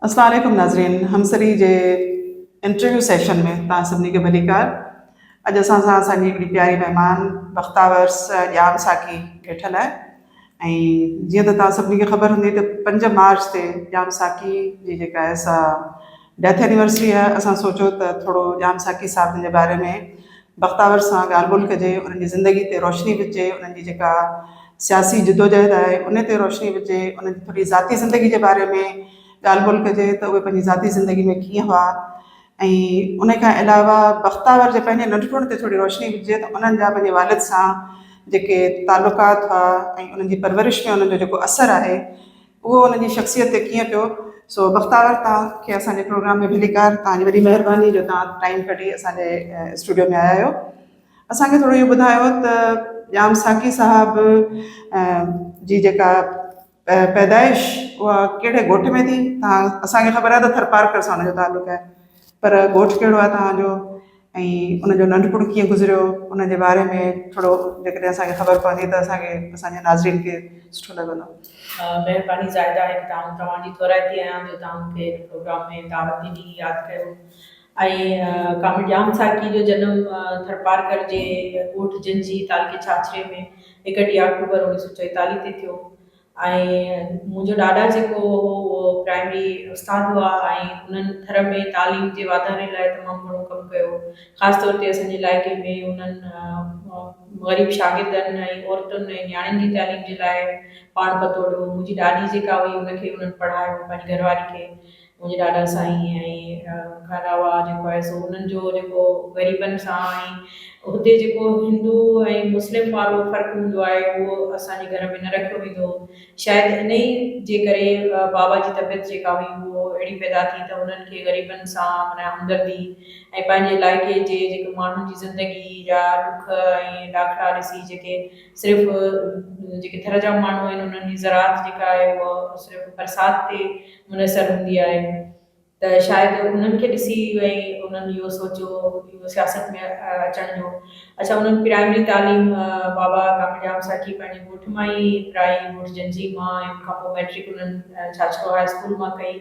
السلام عليڪم ناظرين همسري جي انٽرويو سيشن ۾ توهان سڀني کي ڀليڪار اڄ اسان سان اسان جي هڪڙي پياري مهمان بختاور ڄام ساقي ويٺل آهي ۽ جيئن ته توهان سڀني کي خبر هوندي ته پنج مارچ تي ڄام ساقي جي جيڪا آهي سا ڊيٿ اينيورسري آهي اسان سوچيو ته ٿورو ڄام ساقي صاحبن جي باري ۾ بختاور سان ڳالهه ٻولهه ڪجي انهن جي زندگي تي روشني وجهجي انهن جي جيڪا سياسي جدوجهد آهي ان تي روشني وجهجي انهن جي ٿوري ذاتي زندگي جي باري ۾ ڳالهه ٻولهه ڪجي ته اهي پنهنجي ذاتي زندگي ۾ ڪيئن هئا ۽ ان کان علاوه بختاور جي پنهنجي ننڍپڻ تي ٿوري روشني وجهجي ته انهن جا پنهنجي والد سان جيڪي تعلقات هئا ۽ انهن جي پرورش ۾ انهن جو جيڪو اثر آهي اهو انهن جي شخصيت تي ڪيئن پيو سو بختاور تان کي اسان جي پروگرام ۾ ڀليڪار تهان جي وڏي مهرباني جو تهان ٽائيم ڪڍي اسان جي اسٽوڊيو ۾ آيا آهيو اسان کي ٿورو اهو ٻڌايو ته ڄام ساقي صاحب جي جيڪا پيدائش اها ڪهڙي ڳوٺ ۾ ٿي توهان اسان کي خبر آهي ته ٿرپارڪر سان ان جو تعلق آهي پر ڳوٺ ڪهڙو آهي توهان جو ۽ ان جو ننڍپڻ ڪيئن گذريو ان جي باري ۾ ٿورو جيڪڏهن اسان کي خبر پوندي ته اسان کي اسان جي ناظرين کي سٺو لڳندو. مهرباني زاهده هڪ ته آئون توهان جي ٿورائتي آهيان جو توهان مون کي هن پروگرام ۾ دعوت ڏني ياد ڪيو ۽ ڪامل ڄام ساقي جو جنم ٿرپارڪر جي ڳوٺ جنجهي، تعلقي ڇاڇري ۾ هڪ ٽي آڪٽوبر اڻويهه سؤ چويتاليهه تي ٿيو ۽ منهنجو ڏاڏا جيڪو هو اهو پرائمري استاد هئا ۽ انهن ٿر ۾ تعليم جي واڌاري لاء تمام گهڻو ڪم ڪيو. خاص طور تي اسان جي علائقي ۾ انهن غريب شاگردن ۽ عورتن ۽ نياڻين جي تعليم جي لاء پاڻ پتوڙيو. منهنجي ڏاڏي جيڪا هئي ان کي انهن پڙهايو، پنهنجي گهرواري کي منهنجي ڏاڏا سائين ۽ ان کان علاوه جيڪو آهي سو انهن جو جيڪو غريبن سان ۽ هتي جيڪو هندو ۽ مسلم وارو فرق هوندو آهي اهو اسان جي گهر ۾ نه رکيو ويندو هو شايد انهي جي ڪري بابا جي طبيعت جيڪا هئي اهو اهڙي پيدا ٿي ته انهن کي غريبن سان معنيٰ همدردي ۽ پنهنجي علائقي جي جيڪي ماڻهن جي زندگي جا ڏک ۽ ڏاکڙا ڏسي جيڪي صرف جيڪي ٿر جا ماڻهو آهن انهن جي زراعت جيڪا آهي اهو صرف برسات تي منحصر هوندي آهي ته شايد انهن کي ڏسي ۽ انهن اهو سوچيو اهو سياست ۾ اچڻ جو اڇا انهن پرائمري تعليم بابا ڪامل ڄام ساقي پنهنجي ڳوٺ مان ئي پرائي ڳوٺ جنجهي مان ۽ ان کانپوء مئٽرڪ انهن ڇاڇرو هاء اسڪول مان ڪئي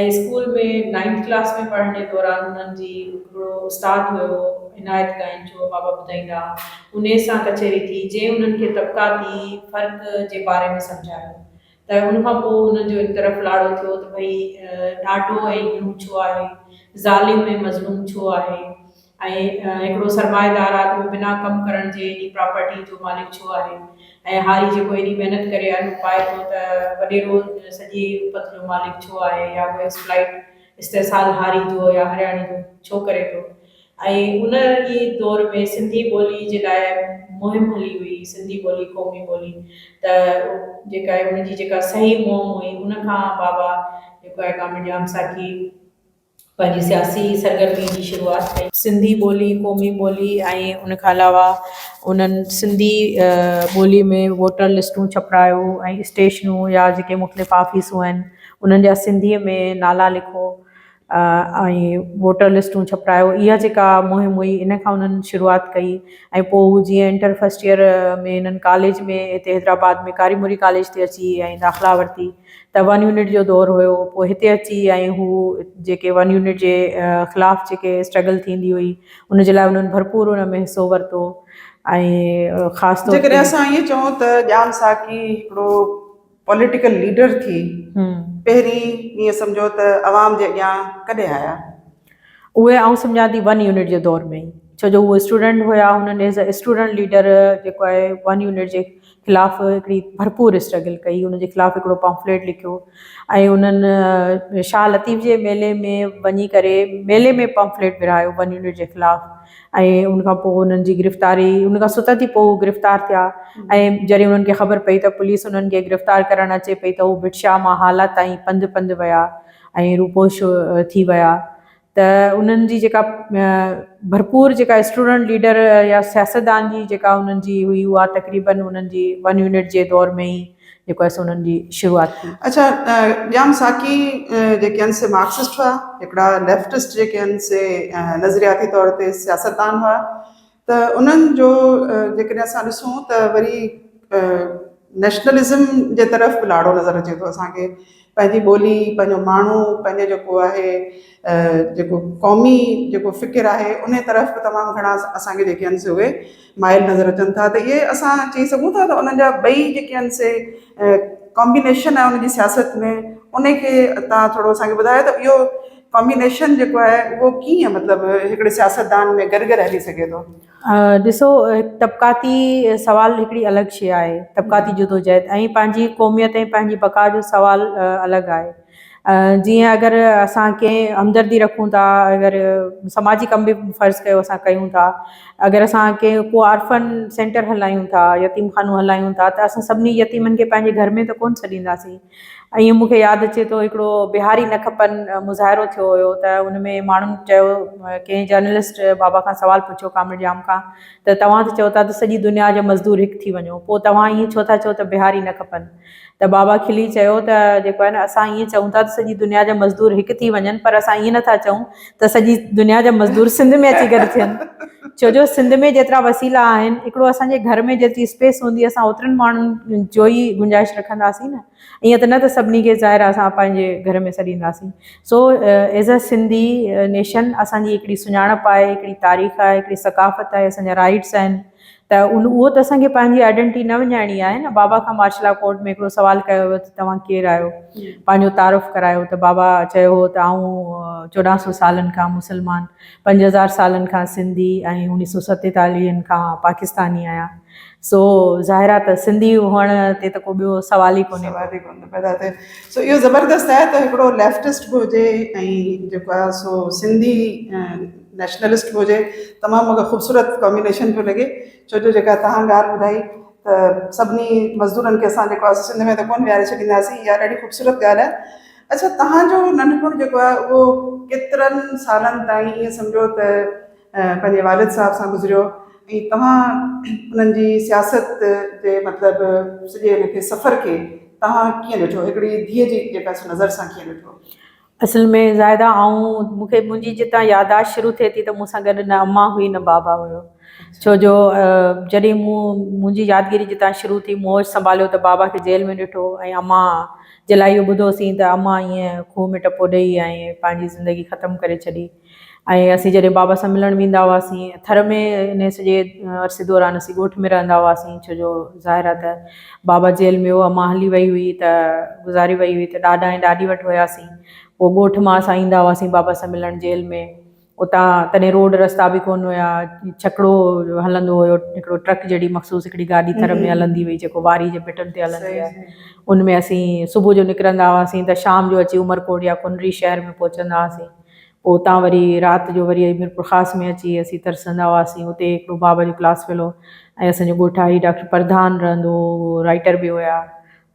۽ اسڪول ۾ نائنٿ ڪلاس ۾ پڙهڻ جي دوران انهن جي هڪڙو استاد هيو عنايت گائينچو بابا ٻڌائيندا انهي سان ڪچهري ٿي جنهن انهن کي طبقاتي فرق جي باري ۾ سمجهايو ته ان کان پوء انهن جو هڪ طرف لاڙو ٿيو ته ڀئي ڏاڍو ۽ گهڻو ڇو آهي، ظالم ۽ مظلوم ڇو آهي ۽ هڪڙو سرمائيدار آدمي بنا ڪم ڪرڻ جي ايڏي پراپرٽيء جو مالڪ ڇو آهي ۽ هاري جيڪو ايڏي محنت ڪري انو پائي ٿو ته وڏيرو سڄي الفت جو مالڪ ڇو آهي يا هو ايڪسپلائيٽ، استحصال، هاري جو يا هرياڻي جو ڇو ڪري ٿو ۽ ان ئي دور ۾ سنڌي ٻولي جي لاء مهم هلي هئي سنڌي ٻولي قومي ٻولي ته جيڪا آهي ان جي جيڪا صحيح مهم هئي ان کان بابا جيڪو آهي ڪامل ڄام ساکي پنهنجي سياسي سرگرمي جي شروعات ڪئي. سنڌي ٻولي قومي ٻولي ۽ ان کان علاوه انهن سنڌي ٻولي ۾ ووٽر لسٽون ڇپرايو ۽ اسٽيشنون يا جيڪي مختلف آفيسون آهن انهن جا سنڌي ۾ نالا لکو ۽ ووٽر لسٽون ڇپرائيو اها جيڪا مهم هئي ان کان انهن شروعات ڪئي ۽ پوء هو جيئن انٽر فسٽ ايئر ۾ انهن ڪاليج ۾ هتي حيدرآباد ۾ ڪاري مري ڪاليج تي اچي ۽ داخلا ورتي ته ون يونٽ جو دور هيو پوء هتي اچي ۽ هو جيڪي ون يونٽ جي خلاف جيڪي اسٽرگل ٿيندي هئي ان جي لاء انهن ڀرپور ان ۾ حصو ورتو ۽ خاص طور جيڪڏهن اسان ائين چئون ته ڄام ساقي هڪڙو پوليٽيڪل ليڊر ٿي پهرين ائين سمجهو ته عوام جي اڳيان ڪڏهن آيا؟ اهي آئون سمجهان ٿي ون يونٽ جي دور ۾ ئي ڇو جو هو اسٽوڊنٽ هيا هنن ايز اي اسٽوڊنٽ ليڊر جيڪو آهي ون يونٽ جي خلاف هڪڙي ڀرپور اسٽرگل ڪئي هن جي خلاف هڪڙو پمفليٽ لکيو ۽ هنن شاهه لطيف جي ميلي ۾ وڃي ڪري ميلي ۾ پمفليٽ ورهايو ون يونٽ جي خلاف ۽ ان کان پوء انهن جي گرفتاري ان کان ست ڏينهن پوء هو گرفتار ٿيا ۽ جڏهن انهن کي خبر پئي ته پوليس انهن کي گرفتار ڪرڻ اچي پئي ته هو ڀٽشاهه مان هالا تائين پنڌ پنڌ ويا ۽ روپوش ٿي ويا ته انهن جي جيڪا ڀرپور جيڪا اسٽوڊنٽ ليڊر يا سياستدان جي جيڪا انهن جي هئي اها تقريبن انهن جي ون يونٽ جي دور ۾ ئي جيڪو اسين انهن جي شروعات ٿي. اڇا ڄام ساقي جيڪي هن سي مارڪسسٽ هئا هڪڙا ليفٽسٽ جيڪي هن سي نظرياتي طور تي سياستدان هئا ته انهن جو جيڪڏهن اسان ڏسون ته وري نيشنلزم جي طرف به لاڙو نظر اچي ٿو اسان کي پنهنجي ٻولي، پنهنجو ماڻهو، پنهنجو جيڪو آهي جيڪو قومي جيڪو فڪر آهي ان طرف به تمام گهڻا اسان کي جيڪي آهن سي اهي مائل نظر اچن ٿا ته اهي اسان چئي سگهون ٿا ته انهن جا ٻئي جيڪي آهن سي ڪامبينيشن آهي ان جي سياست ۾ ان کي تان ٿورو اسان کي ٻڌايو ته اهو ڪامبينيشن جيڪو آهي اهو ڪيئن مطلب هڪڙي سياستدان ۾ گڏ گڏ هلي سگهي ٿو ڏسو طبقاتي سوال هڪڙي الڳ شيء آهي، طبقاتي جدوجهد ۽ پنهنجي قوميت ۽ پنهنجي بقا جو سوال الڳ آهي. جيئن اگر اسان ڪنهن همدردي رکون ٿا اگر سماجي ڪم به فرض ڪيو اسان ڪيون ٿا اگر اسان ڪنهن ڪو آرڦن سينٽر هلايون ٿا يتيم خانو هلايون ٿا ته اسان سڀني يتيمن کي پنهنجي گهر ۾ ته ڪونه سڏينداسين ائين مون کي ياد اچي ٿو هڪڙو بهاري نه کپن مظاهرو ٿيو هيو ته ان ۾ ماڻهن چيو ڪنهن جرنلسٽ بابا کان سوال پڇيو ڪامريڊ ڄام کان ته توهان ته چئو ٿا ته سڄي دنيا جا مزدور هڪ ٿي وڃو پوء توهان ائين ڇو ٿا چئو ته بهاري نه کپن ته بابا کلي چيو ته جيڪو آهي نه اسان ائين چئون ٿا ته سڄي دنيا جا مزدور هڪ ٿي وڃن پر اسان ائين نه ٿا چئون ته سڄي دنيا جا مزدور سنڌ ۾ اچي گڏ ٿين ڇو جو سنڌ ۾ جيترا وسيلا آهن هڪڙو اسان جي گهر ۾ جيتري اسپيس هوندي اسان اوترن ماڻهن جو ئي گنجائش رکنداسين نه ائين ته نه ته سڀني کي ظاهر اسان پنهنجي گهر ۾ سڏينداسين so as a Sindhi nation اسان جي هڪڙي سڃاڻپ آهي هڪڙي تاريخ آهي هڪڙي ثقافت آهي اسان جا رائيٽس آهن ته اهو ته اسان کي پنهنجي آئيڊينٽي نه وڃائڻي آهي نه. بابا کان مارشل لا ڪورٽ ۾ هڪڙو سوال ڪيو ويو ته توهان ڪير آهيو؟ پنهنجو تعارف ڪرايو ته بابا چيو هو ته آئون چوڏهن سو سالن کان مسلمان، پنج هزار سالن کان سنڌي ۽ اڻيهه سو ستيتاليهن کان پاڪستاني آهيان. سو ظاهر آهي ته سنڌي هئڻ تي ته ڪو ٻيو سوال ئي ڪونهي. سوال ئي ڪونه ٿو پيدا ٿئي. سو اهو زبردست آهي ته هڪڙو ليفٽسٽ به هجي ۽ جيڪو آهي سو سنڌي نيشنلسٽ به هجي تمام مونکي خوبصورت ڪامبينيشن پيو لڳي ڇو جو جيڪا توهان ڳالهه ٻڌائي ته سڀني مزدورن کي اسان جيڪو آهي سنڌ ۾ ته ڪونه ويهاري ڇڏينداسين اها ڏاڍي خوبصورت ڳالهه آهي اڇا توهان جو ننڍپڻ جيڪو آهي اهو ڪيترن سالن تائين ائين سمجهو ته پنهنجي والد صاحب سان گذريو ۽ توهان انهن جي سياست جي مطلب سڄي ان کي سفر کي توهان ڪيئن ڏٺو هڪڙي ڌيء جي جيڪا نظر سان ڪيئن ڏٺو اصل ۾ زاهده آئون مون کي منهنجي جتان ياداشت شروع ٿئي ٿي ته مون سان گڏ نه امان هئي نه بابا هيو ڇو جو جڏهن مون منهنجي يادگيري جتان شروع ٿي مون هوش سنڀاليو ته بابا کي جيل ۾ ڏٺو ۽ امان جي لاء اهو ٻڌو سين ته امان ائين کوهه ۾ ٽپو ڏئي ۽ پنهنجي زندگي ختم ڪري ڇڏي ۽ اسين جڏهن بابا سان ملڻ ويندا هئاسين ٿر ۾ انهي سڄي عرصي دوران اسين ڳوٺ ۾ رهندا هئاسين ڇو جو ظاهر آهي ته بابا جيل ۾ هو امان هلي وئي هئي ته گذاري وئي هئي ته ڏاڏا ۽ ڏاڏي وٽ هياسين پوء ڳوٺ مان اسان ايندا هئاسين بابا سان ملڻ جيل ۾ اتان تڏهن روڊ رستا به ڪونه هيا ڇڪڙو هلندو هيو هڪڙو ٽرڪ جهڙي مخصوص هڪڙي گاڏي ٿر ۾ هلندي هئي جيڪو واري جي ڀٽن تي هلندي آهي ان ۾ اسين صبح جو نڪرندا هئاسين ته شام جو اچي عمرڪوٽ يا ڪنري شهر ۾ پهچندا هئاسين پوء اتان وري رات جو وري ميرپورخاص ۾ اچي اسين ترسندا هئاسين. اتي هڪڙو بابا جو ڪلاس فيلو ۽ اسان جو ڳوٺاڻي ڊاڪٽر پرڌان رهندو هو. هو رائيٽر به هيا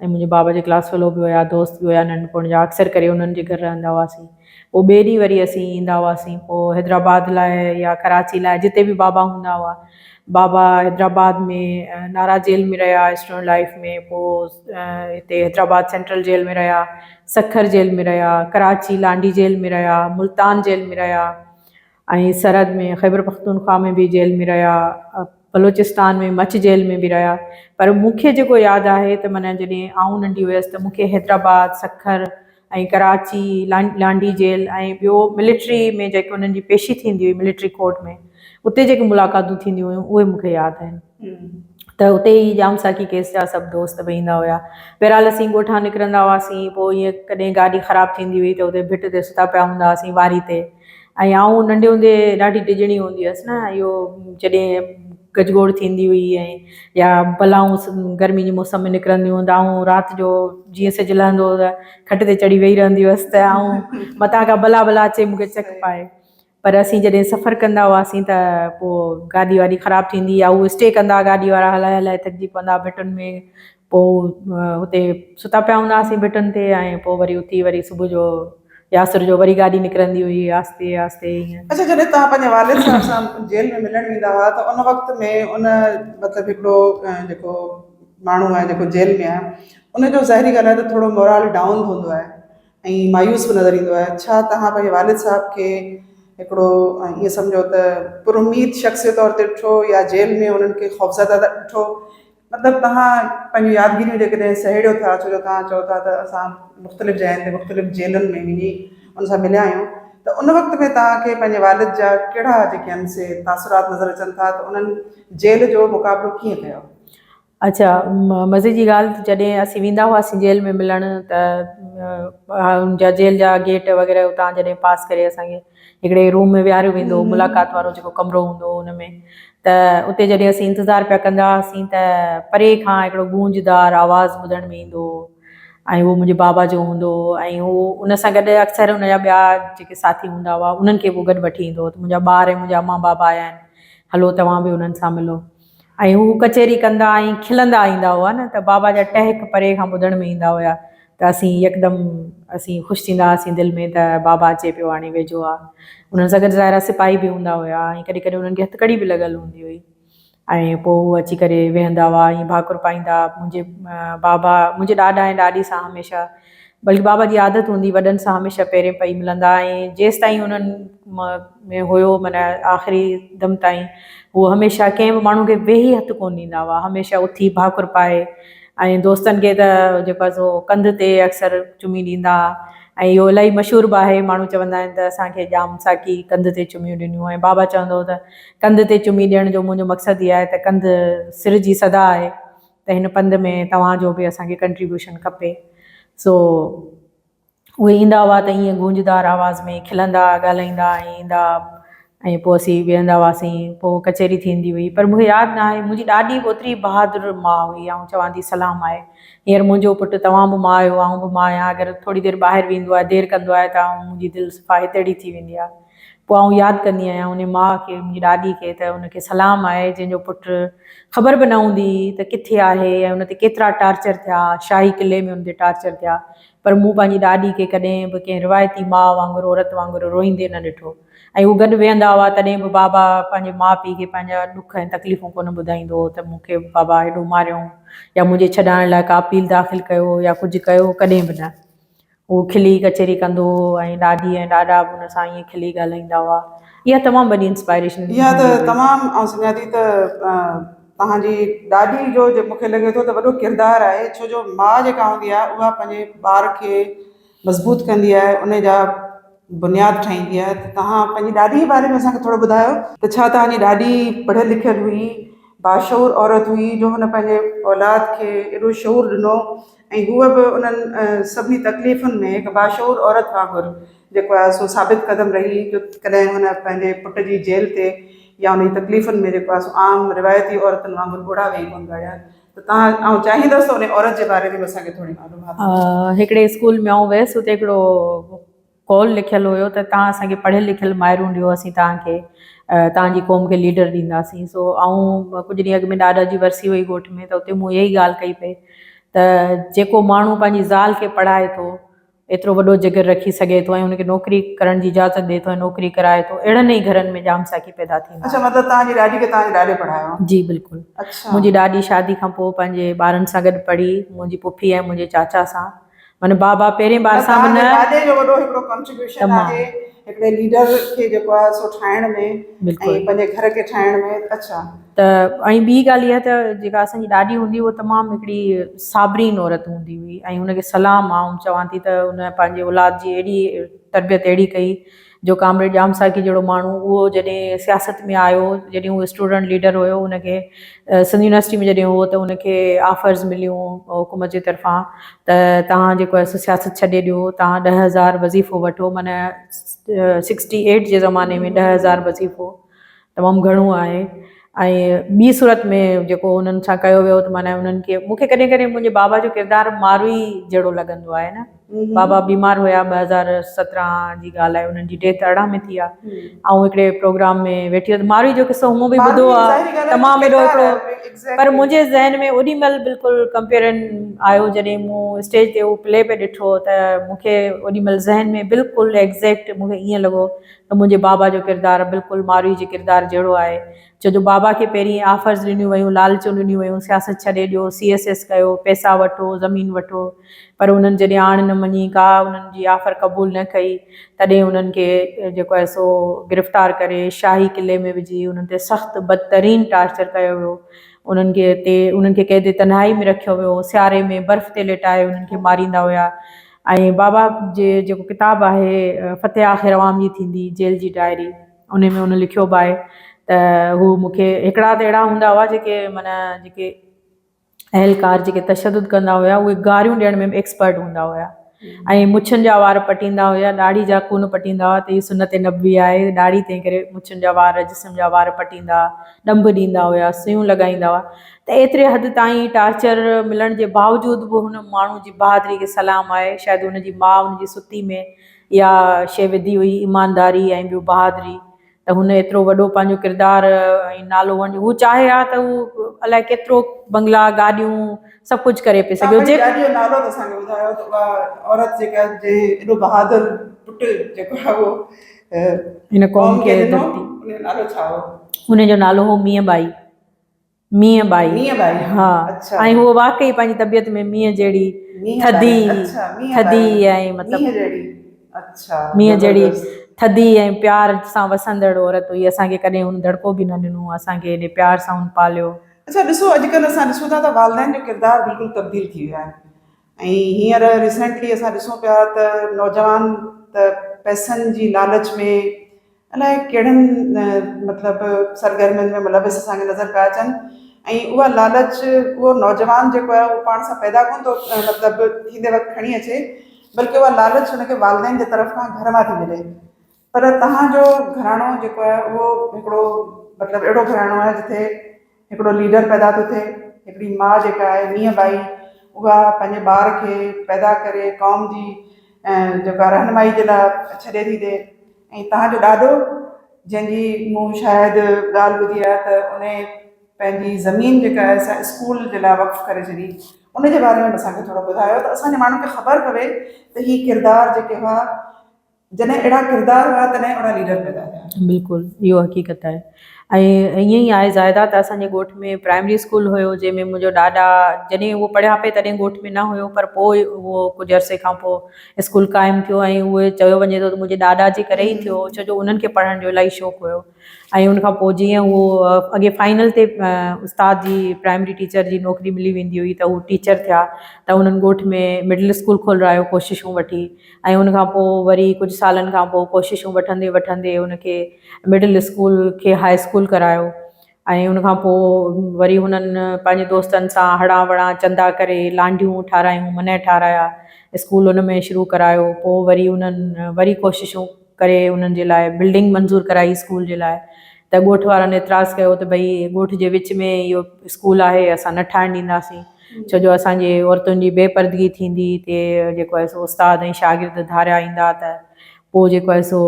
۽ منهنجي بابا جي ڪلاس فيلو به هيا، دوست به هيا ننڍپڻ جا. اڪثر ڪري انهن جي گهر رهندا هئاسين. پوء ٻئي ڏينهن وري اسين ايندا هئاسين. پوء حيدرآباد لاء يا ڪراچي لاء جتي به بابا هوندا هئا. بابا حيدرآباد ۾ نارا جيل ۾ رهيا اسٽوڊنٽ لائيف ۾ پوء هتي حيدرآباد سينٽرل جيل ۾ رهيا سکر جيل ۾ رهيا ڪراچي لانڍي جيل ۾ رهيا ملتان جيل ۾ رهيا ۽ سرحد ۾ خيبرپختونخوا ۾ به جيل ۾ رهيا بلوچستان ۾ مڇ جيل ۾ به رهيا پر مون کي جيڪو ياد آهي ته معنيٰ جڏهن آئون ننڍي هيس ته مون کي حيدرآباد سکر ۽ ڪراچي، لانڍي جيل ۽ ٻيو ملٽري ۾ جيڪي انهن جي پيشي ٿيندي هئي ملٽري ڪورٽ ۾ اتي جيڪي ملاقاتون ٿينديون هيون اهي مون کي ياد آهن ته اتي ئي ڄام ساقي ڪيس جا سڀ دوست به ايندا هيا. بهرحال اسين ڳوٺان نڪرندا هئاسين پوء ائين ڪڏهن گاڏي خراب ٿيندي هئي ته اتي ڀٽ تي ستا پيا هوندا هئاسين واري تي. ۽ آئون ننڍي هوندي ڏاڍي ڊڄڻي هوندي هيس نه اهو جڏهن گجگوڙ ٿيندي هئي ۽ يا بلائون گرمي جي موسم ۾ نڪرنديون هيون ته آئون رات جو جيئن سج لهندو هو ته کٽ تي چڙهي ويهي رهندي هيس ته آئون متان کا بلا بلا اچي مون کي چڪ پائي پر اسين جڏهن سفر ڪندا هئاسين ته پوء گاڏي واڏي خراب ٿيندي يا هو اسٽي ڪندا گاڏي وارا هلائي هلائي ٿڪجي پوندا ڀٽن ۾ پوء اتي ستا پيا هوندا هئاسين ڀٽن تي ۽ پوء وري اٿي وري صبح جو يا عصر جو وري گاڏي نڪرندي هئي آهستي آهستي ائين. اڇا جڏهن توهان پنهنجي والد صاحب سان جيل ۾ ملڻ ويندا هئا ته ان وقت ۾ ان مطلب هڪڙو جيڪو ماڻهو آهي جيڪو جيل ۾ آهي ان جو ظاهري ڳالهه آهي ته ٿورو مورال ڊائون هوندو آهي ۽ مايوس به نظر ايندو آهي ڇا توهان پنهنجي والد صاحب کي هڪڙو ائين سمجهو ته پر اميد شخص جي طور تي ڏٺو يا جيل ۾ انهن کي خوفزده ڏٺو مطلب توهان پنهنجون يادگيريون جيڪڏهن سهيڙيو ٿا ڇو جو توهان چئو ٿا ته اسان مختلف جاين تي مختلف جيلن ۾ وڃي ان سان مليا آهيون ته ان وقت ۾ توهان کي پنهنجي والد جا ڪهڙا جيڪي آهن سي تاثرات نظر اچن ٿا ته انهن جيل جو مقابلو ڪيئن ڪيو؟ اچا مزي جي ڳالهه ته جڏهن اسين ويندا هئاسين جيل ۾ ملڻ ته ان جا جيل جا گيٽ وغيره اتان جڏهن پاس ڪري اسان کي هڪڙي روم ۾ ويهاريو ويندو هو ملاقات وارو جيڪو ڪمرو هوندو هو ان ۾ ته اتي جڏهن اسين انتظار پيا ڪندا هئاسين ته پري کان هڪڙو گونجدار آواز ٻڌڻ ۾ ايندو هو ۽ اهو منهنجي بابا جو هوندو هو ۽ هو ان سان گڏ اڪثر ان جا ٻيا جيڪي ساٿي هوندا هئا انهن کي به گڏ وٺي ايندو هو ته منهنجا ٻار ۽ منهنجا امان بابا آيا آهن هلو توهان به انهن سان ملو ۽ هو ڪچهري ڪندا ۽ کلندا ايندا هئا نه ته بابا جا ٽهڪ پري کان ٻڌڻ ۾ ايندا هيا ته اسين يڪدم اسين خوش ٿيندا هئاسين دل ۾ ته بابا اچي پيو هاڻي ويجهو آ انهن سان گڏ ظاهرا سپاهي به هوندا هيا ۽ ڪڏهن ڪڏهن انهن کي هٿڪڙي به لڳل هوندي هئي ۽ پوء هو اچي ڪري ويهندا هئا ۽ ڀاڪر پائيندا منهنجي بابا منهنجي ڏاڏا ۽ ڏاڏي سان هميشه بلڪ بابا جي عادت هوندي وڏن سان هميشه پيرين پئي ملندا ۽ جيستائين انهن ۾ هيو معنيٰ آخري دم تائين هو هميشه ڪنهن به ماڻهو کي ويهي هٿ ڪونه ڏيندا هئا هميشه اٿي ڀاڪر پائي ۽ دوستن کي ته جيڪو آهي سو ڪنڌ تي اڪثر چمي ڏيندا هئا ۽ اهو الاهي مشهور به آهي ماڻهو چوندا آهن ته اسان کي ڄام ساقي ڪنڌ تي چميون ڏنيون ۽ بابا چوندو هو ته ڪنڌ تي چمي ڏيڻ جو منهنجو مقصد هي آهي ته ڪنڌ سر جي صدا آهي ته هن پنڌ ۾ توهان جو به اسان کي ڪنٽريبيوشن کپي. سو اهي ايندا هئا ته ائين گونجدار آواز ۾ کلندا، ڳالهائيندا ۽ ايندا ۽ پوء اسين ويهندا هئاسين. پوء ڪچهري ٿيندي هئي. پر مونکي ياد نه آهي. منهنجي ڏاڏي به اوتري ئي بهادر ماء هئي. آئون چوان ٿي سلام آهي. هينئر منهنجو پٽ توهان به ماء آهيو، آئون به ماء آهيان. اگر ٿوري دير ٻاهر ويندو آهي، دير ڪندو آهي ته آئون منهنجي دل صفا هتيڙي ٿي ويندي آهي. پوء آئون ياد ڪندي آهيان ان ماء کي، ان جي ڏاڏي کي ته ان کي سلام آهي جنهن جو پٽ خبر به نه هوندي ته ڪٿي آهي ۽ ان تي ڪيترا ٽارچر ٿيا، شاهي قلعي ۾ ان تي ٽارچر ٿيا پر مون پنهنجي ڏاڏي کي ڪڏهن به ڪنهن روايتي ماء وانگر عورت وانگر روئيندي نه ڏٺو ۽ هو گڏ ويهندا هئا تڏهن به بابا پنهنجي ماء پيء کي پنهنجا ڏک ۽ تڪليفون ڪونه ٻڌائيندو هو ته مون کي بابا هيڏو ماريائون يا منهنجي ڇڏائڻ لاء ڪا اپيل داخل ڪيو يا ڪجهه ڪيو ڪڏهن به نه. هو کلي ڪچهري ڪندو هو ۽ ڏاڏي ۽ ڏاڏا به هن سان ائين کلي ڳالهائيندا هئا. اها تمام وڏي انسپائريشن اها ته هوندي هئي. تمام آئون سمجهان ٿي ته توهان جي ڏاڏي جو جيڪو مون کي لڳي ٿو ته وڏو ڪردار آهي ڇو جو ماء جيڪا هوندي آهي اها پنهنجي ٻار کي مضبوط ڪندي آهي ان جا بنياد ٺاهيندي آهي ته توهان پنهنجي ڏاڏي جي باري ۾ اسان کي ٿورو ٻڌايو ته ڇا توهان جي ڏاڏي پڙهيل لکيل هئي باشعور عورت هئي جو هن پنهنجي اولاد کي ايڏو شعور ڏنو ۽ هوء به انهن سڀني تڪليفن ۾ هڪ باشعور عورت وانگر جيڪو آهي سو ثابت قدم رهي جو ڪڏهن هن پنهنجي پٽ جي جيل تي يا ان جي تڪليفن ۾ جيڪو آهي سو عام روايتي عورتن وانگر ڳوڙها ويهي ڪونه ڳاڙيا ته تان آئون چاهيندس ته انهي عورت جي باري ۾ به اسان کي ٿوري معلومات ڏيو. هڪڙي اسڪول ۾ آئون ويس اتي هڪڙو قول لکيل هيو ته توهان اسان کي پڙهيل لکيل مائرون ڏيو اسين توهان کي توهان جي قوم کي ليڊر ڏينداسين سو آئون ڪجهه ڏينهن اڳ ۾ ڏاڏا جي ورسي هئي ڳوٺ ۾ ته اتي مون اها ئي ڳالهه ڪئي پئي ته جيڪو ماڻهو پنهنجي زال کي پڙهائي ٿو ايترو وڏو جگر رکي سگهي ٿو ۽ ان کي نوڪري ڪرڻ جي اجازت ڏئي ٿو ۽ نوڪري ڪرائي ٿو اهڙن ئي گهرن ۾ ڄام ساقي پيدا ٿيندا آهن. اڇا مطلب توهان جي ڏاڏي کي توهان جي ڏاڏي پڙهايو. جي بلڪل اڇا منهنجي ڏاڏي شادي کان پوء پنهنجي ٻارن سان گڏ پڙهي منهنجي پڦي ۽ منهنجي چاچا سان. معنيٰ بابا پهرين بار سان معنيٰ تنهنجي دادي جو وڏو هڪڙو ڪنٽريبيوشن آهي هڪڙي ليڊر کي جيڪو آهي سو ٺاهڻ ۾ ۽ پنهنجي گهر کي ٺاهڻ ۾ اڇا ته ۽ ٻي ڳالهه اها ته جيڪا اسان جي ڏاڏي هوندي هئي تمام هڪڙي صابرين عورت هوندي هئي ۽ ان کي سلام آئون چوان ٿي ته ان پنهنجي اولاد جي اهڙي تربيت اهڙي ڪئي جو ڪامريڊ ڄام ساقي جهڙو ماڻهو اهو جڏهن سياست ۾ آيو جڏهن اهو اسٽوڊنٽ ليڊر هيو ان کي سنڌ يونيورسٽي ۾ جڏهن هو ته ان کي آفرز مليون حڪومت جي طرفان ته تهان جيڪو آهي سو سياست ڇڏي ڏيو تهان ڏهه هزار وظيفو وٺو معنيٰ سڪسٽي ايٽ جي زماني ۾ ڏهه هزار وظيفو تمام گهڻو آهي ۽ ٻي صورت ۾ جيڪو انهن سان ڪيو ويو ته معنيٰ انهن کي مون کي ڪڏهن ڪڏهن منهنجي بابا جو ڪردار ماروئي جهڙو لڳندو آهي نه بابا بيمار هيا ٻه هزار سترهن جي ڳالهه آهي انهن جي ڊيٿ ارڙهن ۾ ٿي آهي آئون هڪڙي پروگرام ۾ ويٺي هئس ماروئي جو قصو مون به ٻڌو آهي تمام ايڏو هڪڙو پر منهنجي ذهن ۾ اوڏي مهل بلڪل ڪمپيرن آيو جڏهن مون اسٽيج تي اهو پلي به ڏٺو ته مون کي اوڏي مهل ذهن ۾ بلڪل ايگزيڪٽ مون کي ائين لڳو ته منهنجي بابا جو ڪردار بلڪل ماروئي جي ڪردار جهڙو آهي ڇو جو بابا کي پهرين آفرز ڏنيون ويون لالچون ڏنيون ويون سياست ڇڏي ڏيو سي ايس ايس ڪيو پئسا وٺو زمين وٺو پر انهن جڏهن آڻ نه مڃي ڪا انهن جي آفر قبول نه ڪئي تڏهن انهن کي جيڪو آهي سو گرفتار ڪري شاهي قلعي ۾ وجهي انهن تي سخت بدترين ٽارچر ڪيو ويو انهن کي تي انهن کي قيد تنهائي ۾ رکيو ويو سياري ۾ برف تي ليٽائي انهن کي ماريندا هيا ۽ بابا جي جيڪو ڪتاب آهي فتح آخر عوام جي ٿيندي جيل جي ڊائري انهي ۾ هن لکيو به آهي ته هو مون کي هڪڙا ته اهڙا هوندا هئا جيڪي معنيٰ جيڪي اهلڪار جيڪي تشدد ڪندا هيا اهي گاريون ڏيڻ ۾ به ايڪسپرٽ هوندا هيا ۽ مڇن جا وار پٽيندا هيا ڏاڙهي جا ڪونه پٽيندا هئا ته هي سنت نبوي آهي ڏاڙهي تنهن ڪري مڇن جا وار جسم جا وار پٽيندا ڏنڀ ڏيندا هيا سيون لڳائيندا هئا ته ايتري حد تائين ٽارچر ملڻ جي باوجود به هن ماڻهو جي بهادري کي سلام آهي. شايد هن جي ماء هن جي ستي ۾ اها شيء وڌي هئي، ايمانداري ۽ ٻيو بهادري، ته هن ايترو وڏو پنهنجو ڪردار ۽ نالو وڃي هو چاهي ها ته هو الائي ڪيترو بنگلا، گاڏيون سڀ ڪجهه ڪري پئي سگهي هجي. توهان پنهنجي ڏاڏيء جو نالو ته اسان کي ٻڌايو ته اها عورت جيڪا جنهن ايڏو بهادر پٽ جيڪو آهي اهو هن قوم کي ڏنو ان جو نالو ڇا هو؟ ان جو نالو هو مينهن ٻائي. مينهن ٻائي، مينهن ٻائي، ها، اڇا. ۽ هوء واقعي پنهنجي طبيعت ۾ مينهن جهڙي مينهن ٻائي، ٿڌي، اڇا، مينهن ٻائي، ٿڌي ۽ مطلب مينهن جهڙي، اڇا، مينهن جهڙي زبردست. ٿڌي ۽ پيار سان وسندڙ عورت هئي، اسان کي ڪڏهن هن دڙڪو به نه ڏنو، اسان کي ايڏي پيار سان هن پاليو. اڇا ڏسو اڄ ڪلهه اسان ڏسون ٿا ته والدين جو ڪردار بلڪل تبديل ٿي ويو آهي. ۽ هينئر ريسينٽلي اسان ڏسون پيا ته نوجوان ته پئسن جي لالچ ۾ الاء ڪهڙن مطلب سرگرمين ۾ ملوث اسان کي نظر پيا اچن ۽ اها لالچ اهو نوجوان جيڪو آهي اهو پاڻ سان پيدا ڪونه ٿو مطلب ٿيندي وقت کڻي اچي بلڪه اها لالچ ان کي والدين جي طرف کان گهر مان ٿي ملي پر توهان جو گهراڻو جيڪو آهي اهو هڪڙو مطلب اهڙو گهراڻو آهي جتي هڪڙو ليڊر پيدا ٿو ٿئي هڪڙي ماء جيڪا آهي مينهن بائي اها پنهنجي ٻار کي پيدا ڪري قوم جي جيڪا رهنمائي جي لاء ڇڏي ٿي ڏي ۽ توهان جو ڏاڏو جنهن جي مون شايد ڳالهه ٻڌي آهي ته ان پنهنجي زمين جيڪا آهي سا اسڪول جي لاء وقف ڪري ڇڏي ان جي باري ۾ اسان کي ٿورو ٻڌايو ته اسان جي ماڻهن کي خبر پوي ته هي ڪردار جيڪي هئا جڏهن اهڙا ڪردار هيا تڏهن اهڙا ليڊر پيدا ٿيا. بلڪل اهو حقيقت آهي ۽ ائين ئي آهي زاهده ته اسان جي ڳوٺ ۾ پرائمري اسڪول هيو جنهن ۾ منهنجو ڏاڏا جڏهن هو پڙهيا پئي تڏهن ڳوٺ ۾ نه هيو پر پوء اهو ڪجهه عرصي کان پوء اسڪول قائم ٿيو ۽ اهو چيو وڃي ٿو ته منهنجي ڏاڏا جي ڪري ئي ٿيو ڇو جو انهن کي پڙهڻ جو الاهي شوق هيو ۽ ان کان پوء جيئن هو اڳي فائنل تي استاد جي پرائمري ٽيچر جي نوڪري ملي ويندي هئي ته هو ٽيچر ٿيا ته انهن ڳوٺ ۾ مڊل اسڪول کولرائيو ڪوششون وٺي ۽ ان کان پوء وري ڪجهه سالن کان پوء ڪوششون وٺندي وٺندي ان کي مڊل اسڪول کي هاء اسڪول ڪرايو ۽ ان کان پوء وري هنن پنهنجي دوستن سان هڙان وڙان چندا ڪري لانڍيون ٺارايون منهه ٺارايا اسڪول ان ۾ شروع ڪرايو پوء وري انهن وري ڪوششون ڪري انهن جي لاء بلڊنگ منظور ڪرائي اسڪول جي لاء ته ڳوٺ وارن اعتراض ڪيو ته ڀئي ڳوٺ جي وچ ۾ اهو اسڪول آهي اسان نه ٺاهڻ ڏينداسين ڇو جو اسان جي عورتن جي بي پردگي ٿيندي تي جيڪو آهي سو استاد ۽ شاگرد ڌاريا ايندا ته پوء جيڪو آهي سو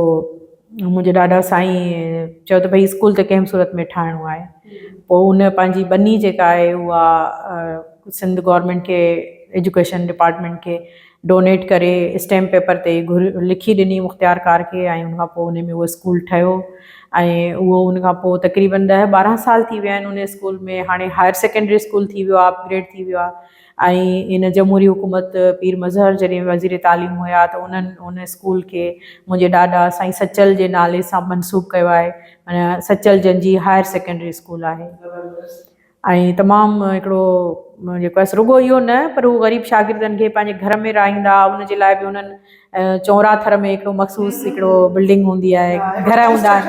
منهنجي ڏاڏا سائين چيو ته ڀئي اسڪول ته ڪنهن صورت ۾ ٺاهڻو آهي پوء ان پنهنجي ٻني جيڪا آهي اها سنڌ گورنمنٽ کي ايجوڪيشن ڊپارٽمنٽ کي ڊونيٽ ڪري اسٽيمپ پيپر تي گهر لکي ڏني مختيار ڪار کي ۽ ان کان پوء ان ۾ اهو اسڪول ٺهيو ۽ اهو ان کان پوء تقريبن ڏهه ٻارهن سال ٿي ويا آهن ان اسڪول ۾ هاڻي هائر سيڪنڊري اسڪول ٿي ويو آهي اپگريڊ ٿي ويو آهي ۽ ان جمهوري حڪومت پير مظهر جڏهن وزير تعليم هيا ته انهن ان اسڪول کي منهنجي ڏاڏا سائين سچل جي نالي سان منسوب ڪيو آهي معنيٰ سچل جن جي هائر سيڪنڊري اسڪول آهي ۽ تمام هڪڙو جيڪو آهي رڳو اهو نه پر هو غريب شاگردن کي پنهنجي گهر ۾ رهائيندا هئا ان جي لاء به انهن چونرا ٿر ۾ هڪڙو مخصوص هڪڙو بلڊنگ هوندي آهي گهر هوندا آهن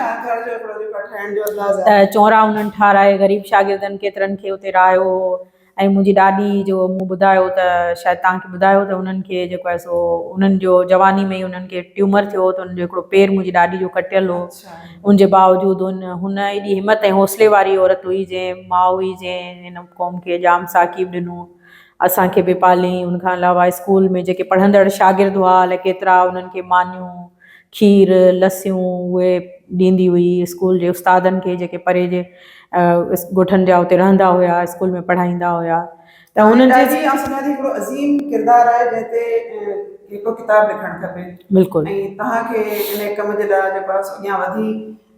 چونرا انهن ٺاهرائي غريب شاگردن ڪيترن کي اتي رهايو هو ۽ منهنجي ڏاڏي جو مون ٻڌايو ته شايد توهان کي ٻڌايو ته انهن کي جيڪو آهي سو انهن جو جواني ۾ انهن کي ٽيومر ٿيو هو ته انهن جو هڪڙو پير منهنجي ڏاڏي جو ڪٽيل هو ان جي باوجود هن ايڏي همت ۽ حوصلي واري عورت هئي جنهن ماء هئي جنهن هن قوم کي ڄام ثاقيب ڏنو اسان کي به پاليائين ان کان علاوه اسڪول ۾ جيڪي پڙهندڙ شاگرد هئا الاء ڪيترا انهن کي مانيون کير لسيون اهي ڏيندي هئي اسڪول جي استادن کي جيڪي پري جي ڳوٺن جا اتي رهندا هيا اسڪول ۾ پڙهائيندا هيا ته هن جي ڏاڏي آسو ميان جي هڪڙو عظيم ڪردار آهي جنهن تي هڪڙو ڪتاب لکڻ کپي بلڪل ۽ توهان کي انهي ڪم جي لاء جيڪو آهي سو اڳيان وڌي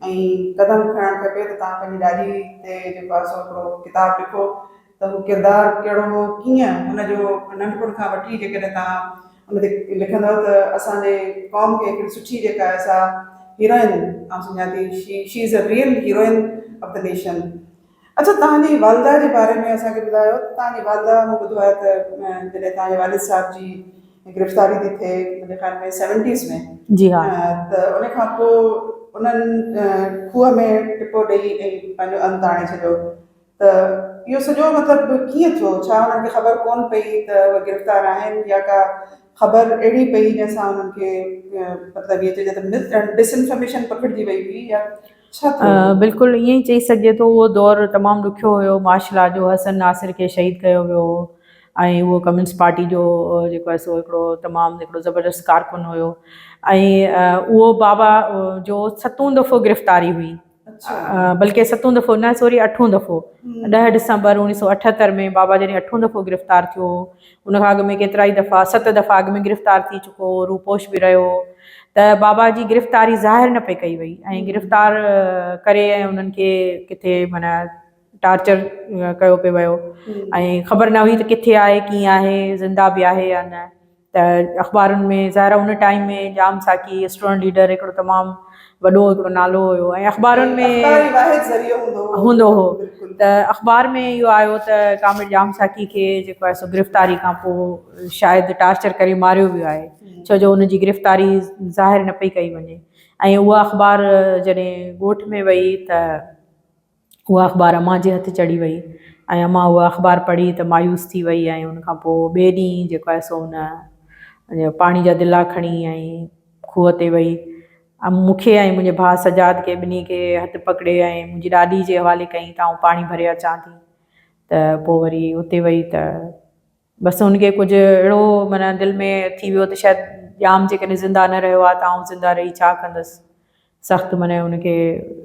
۽ قدم کڻڻ کپي ته توهان پنهنجي ڏاڏي تي جيڪو آهي سو هڪڙو ڪتاب لکو ته هو ڪردار ڪهڙو هو ڪيئن هن جو ننڍپڻ کان وٺي جيڪڏهن توهان ان تي لکندؤ ته اسان جي قوم کي هڪڙي سٺي جيڪا آهي سا هيروئن آسو ميان ٿي she she is a real heroine of the nation اچو توهان جي والده جي باري ۾ اسان کي ٻڌايو ته توهان جي والده مون ٻڌو آهي ته جڏهن توهان جي والد صاحب جي گرفتاري ٿي ٿئي منهنجي خيال ۾ سيونٽيز ۾ جي ها ته ان کان پوء انهن کوهه ۾ ٽپو ڏئي ۽ پنهنجو انت آڻي ڇڏيو ته اهو سڄو مطلب ڪيئن ٿيو ڇا انهن کي خبر ڪونه پئي ته اهي گرفتار آهن يا ڪا خبر اهڙي پئي جنهن سان انهن کي مطلب ائين چئجي ته ڊس انفارميشن پکڙجي وئي هئي يا ڇا ٿيو هو؟ بلڪل ائين ئي چئي سگهجي ٿو. اهو دور تمام ڏکيو هيو. مارشل لا جو حسن ناصر کي شهيد ڪيو ويو هو ۽ اهو ڪميونسٽ پارٽي جو جيڪو آهي سو هڪڙو تمام هڪڙو زبردست ڪارڪن هيو ۽ اهو بابا جو ستون دفعو گرفتاري هئي بلڪه ستون دفعو نه سوري اٺون دفعو ڏهه ڊسمبر اوڻيهه سؤ اٺهتر ۾ بابا جڏهن اٺون دفعو گرفتار ٿيو هو ان کان اڳ ۾ ڪيترائي دفعا ست دفعا اڳ ۾ گرفتار ٿي چڪو هو روپوش به رهيو هو ته بابا جي گرفتاري ظاهر نه پئي ڪئي وئي ۽ گرفتار ڪري ۽ انهن کي ڪٿي معنيٰ ٽارچر ڪيو پئي ويو ۽ خبر نه هئي ته ڪٿي آهي ڪيئن آهي زنده به آهي يا نه ته اخبارن ۾ ظاهر ان time ۾ Jam Saqi student leader هڪڙو تمام وڏو هڪڙو نالو هيو ۽ اخبارن ۾ اخبار ئي واحد ذريعو هوندو هو هوندو هو بلڪل ته اخبار ۾ اهو آيو ته ڪامريڊ ڄام ساقي کي جيڪو آهي سو گرفتاري کان پوء شايد ٽارچر ڪري ماريو ويو آهي ڇو جو ان جي گرفتاري ظاهر نه پئي ڪئي وڃي ۽ اها اخبار جڏهن ڳوٺ ۾ وئي ته اها اخبار امان جي هٿ چڙهي وئي ۽ امان اها اخبار پڙهي ته مايوس ٿي وئي ۽ ان کان پوء ٻئي ڏينهن جيڪو آهي سو هن پاڻي جا دلا کڻي ۽ کوهه تي وئي ۽ مون کي ۽ منهنجي ڀاء سجاد کي ٻنهي کي هٿ پڪڙي ۽ منهنجي ڏاڏي جي حوالي ڪيائين ته آئون پاڻي ڀري اچان ٿي ته پوء وري اتي وئي ته بس هن کي ڪجهه اهڙو معنيٰ دل ۾ ٿي ويو ته شايد ڄام جيڪڏهن زنده نه رهيو آهي ته آئون زنده رهي ڇا ڪندس. سخت معنيٰ هن کي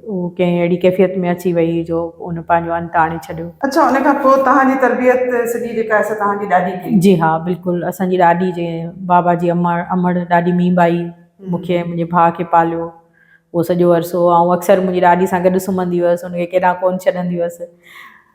هو ڪنهن اهڙي ڪيفيت ۾ اچي ويئي جو هن پنهنجو انت آڻي ڇڏيو. اڇا ان کان پوء توهان جي تربيت سڄي جيڪا آهي سا توهان جي ڏاڏي ڪئي؟ جي ها بلڪل اسان جي ڏاڏي جي بابا جي امڙ ڏاڏي ميين ٻائي مون کي ۽ منهنجي ڀاء کي پاليو اهو سڄو عرصو آئون اڪثر منهنجي ڏاڏي سان گڏ سمهندي هئس هن کي ڪيڏانهن ڪونه ڇڏندي هئس.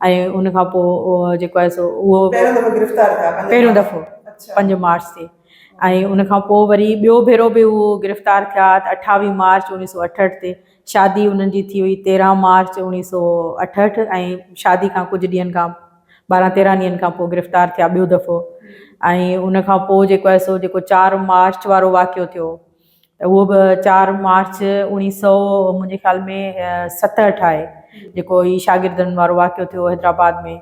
۽ ان کان پوء جيڪو آهي سو اهو پهريون دفعو گرفتار ٿيا پهريون دفعو پنج مارچ تي ۽ ان کان پوء وري ٻيو ڀيرو به اهو گرفتار ٿيا ته اٺاويهه مارچ اڻويهه سو اٺهٺ تي شادي انهن جي ٿي هئي تيرهن مارچ اڻويهه سو اٺهٺ ۽ شادي کان ڪجهه ڏينهن کان ٻارهن تيرهن ڏينهن کان پوء گرفتار ٿيا ٻيو دفعو ۽ ان کان پوء جيڪو آهي سو جيڪو چار مارچ وارو واقعو ٿيو اهو به چار مارچ اوڻيهه سؤ منهنجي خيال ۾ ستهٺ آهي جيڪو هي شاگردن وارو واقعو ٿيو حيدرآباد ۾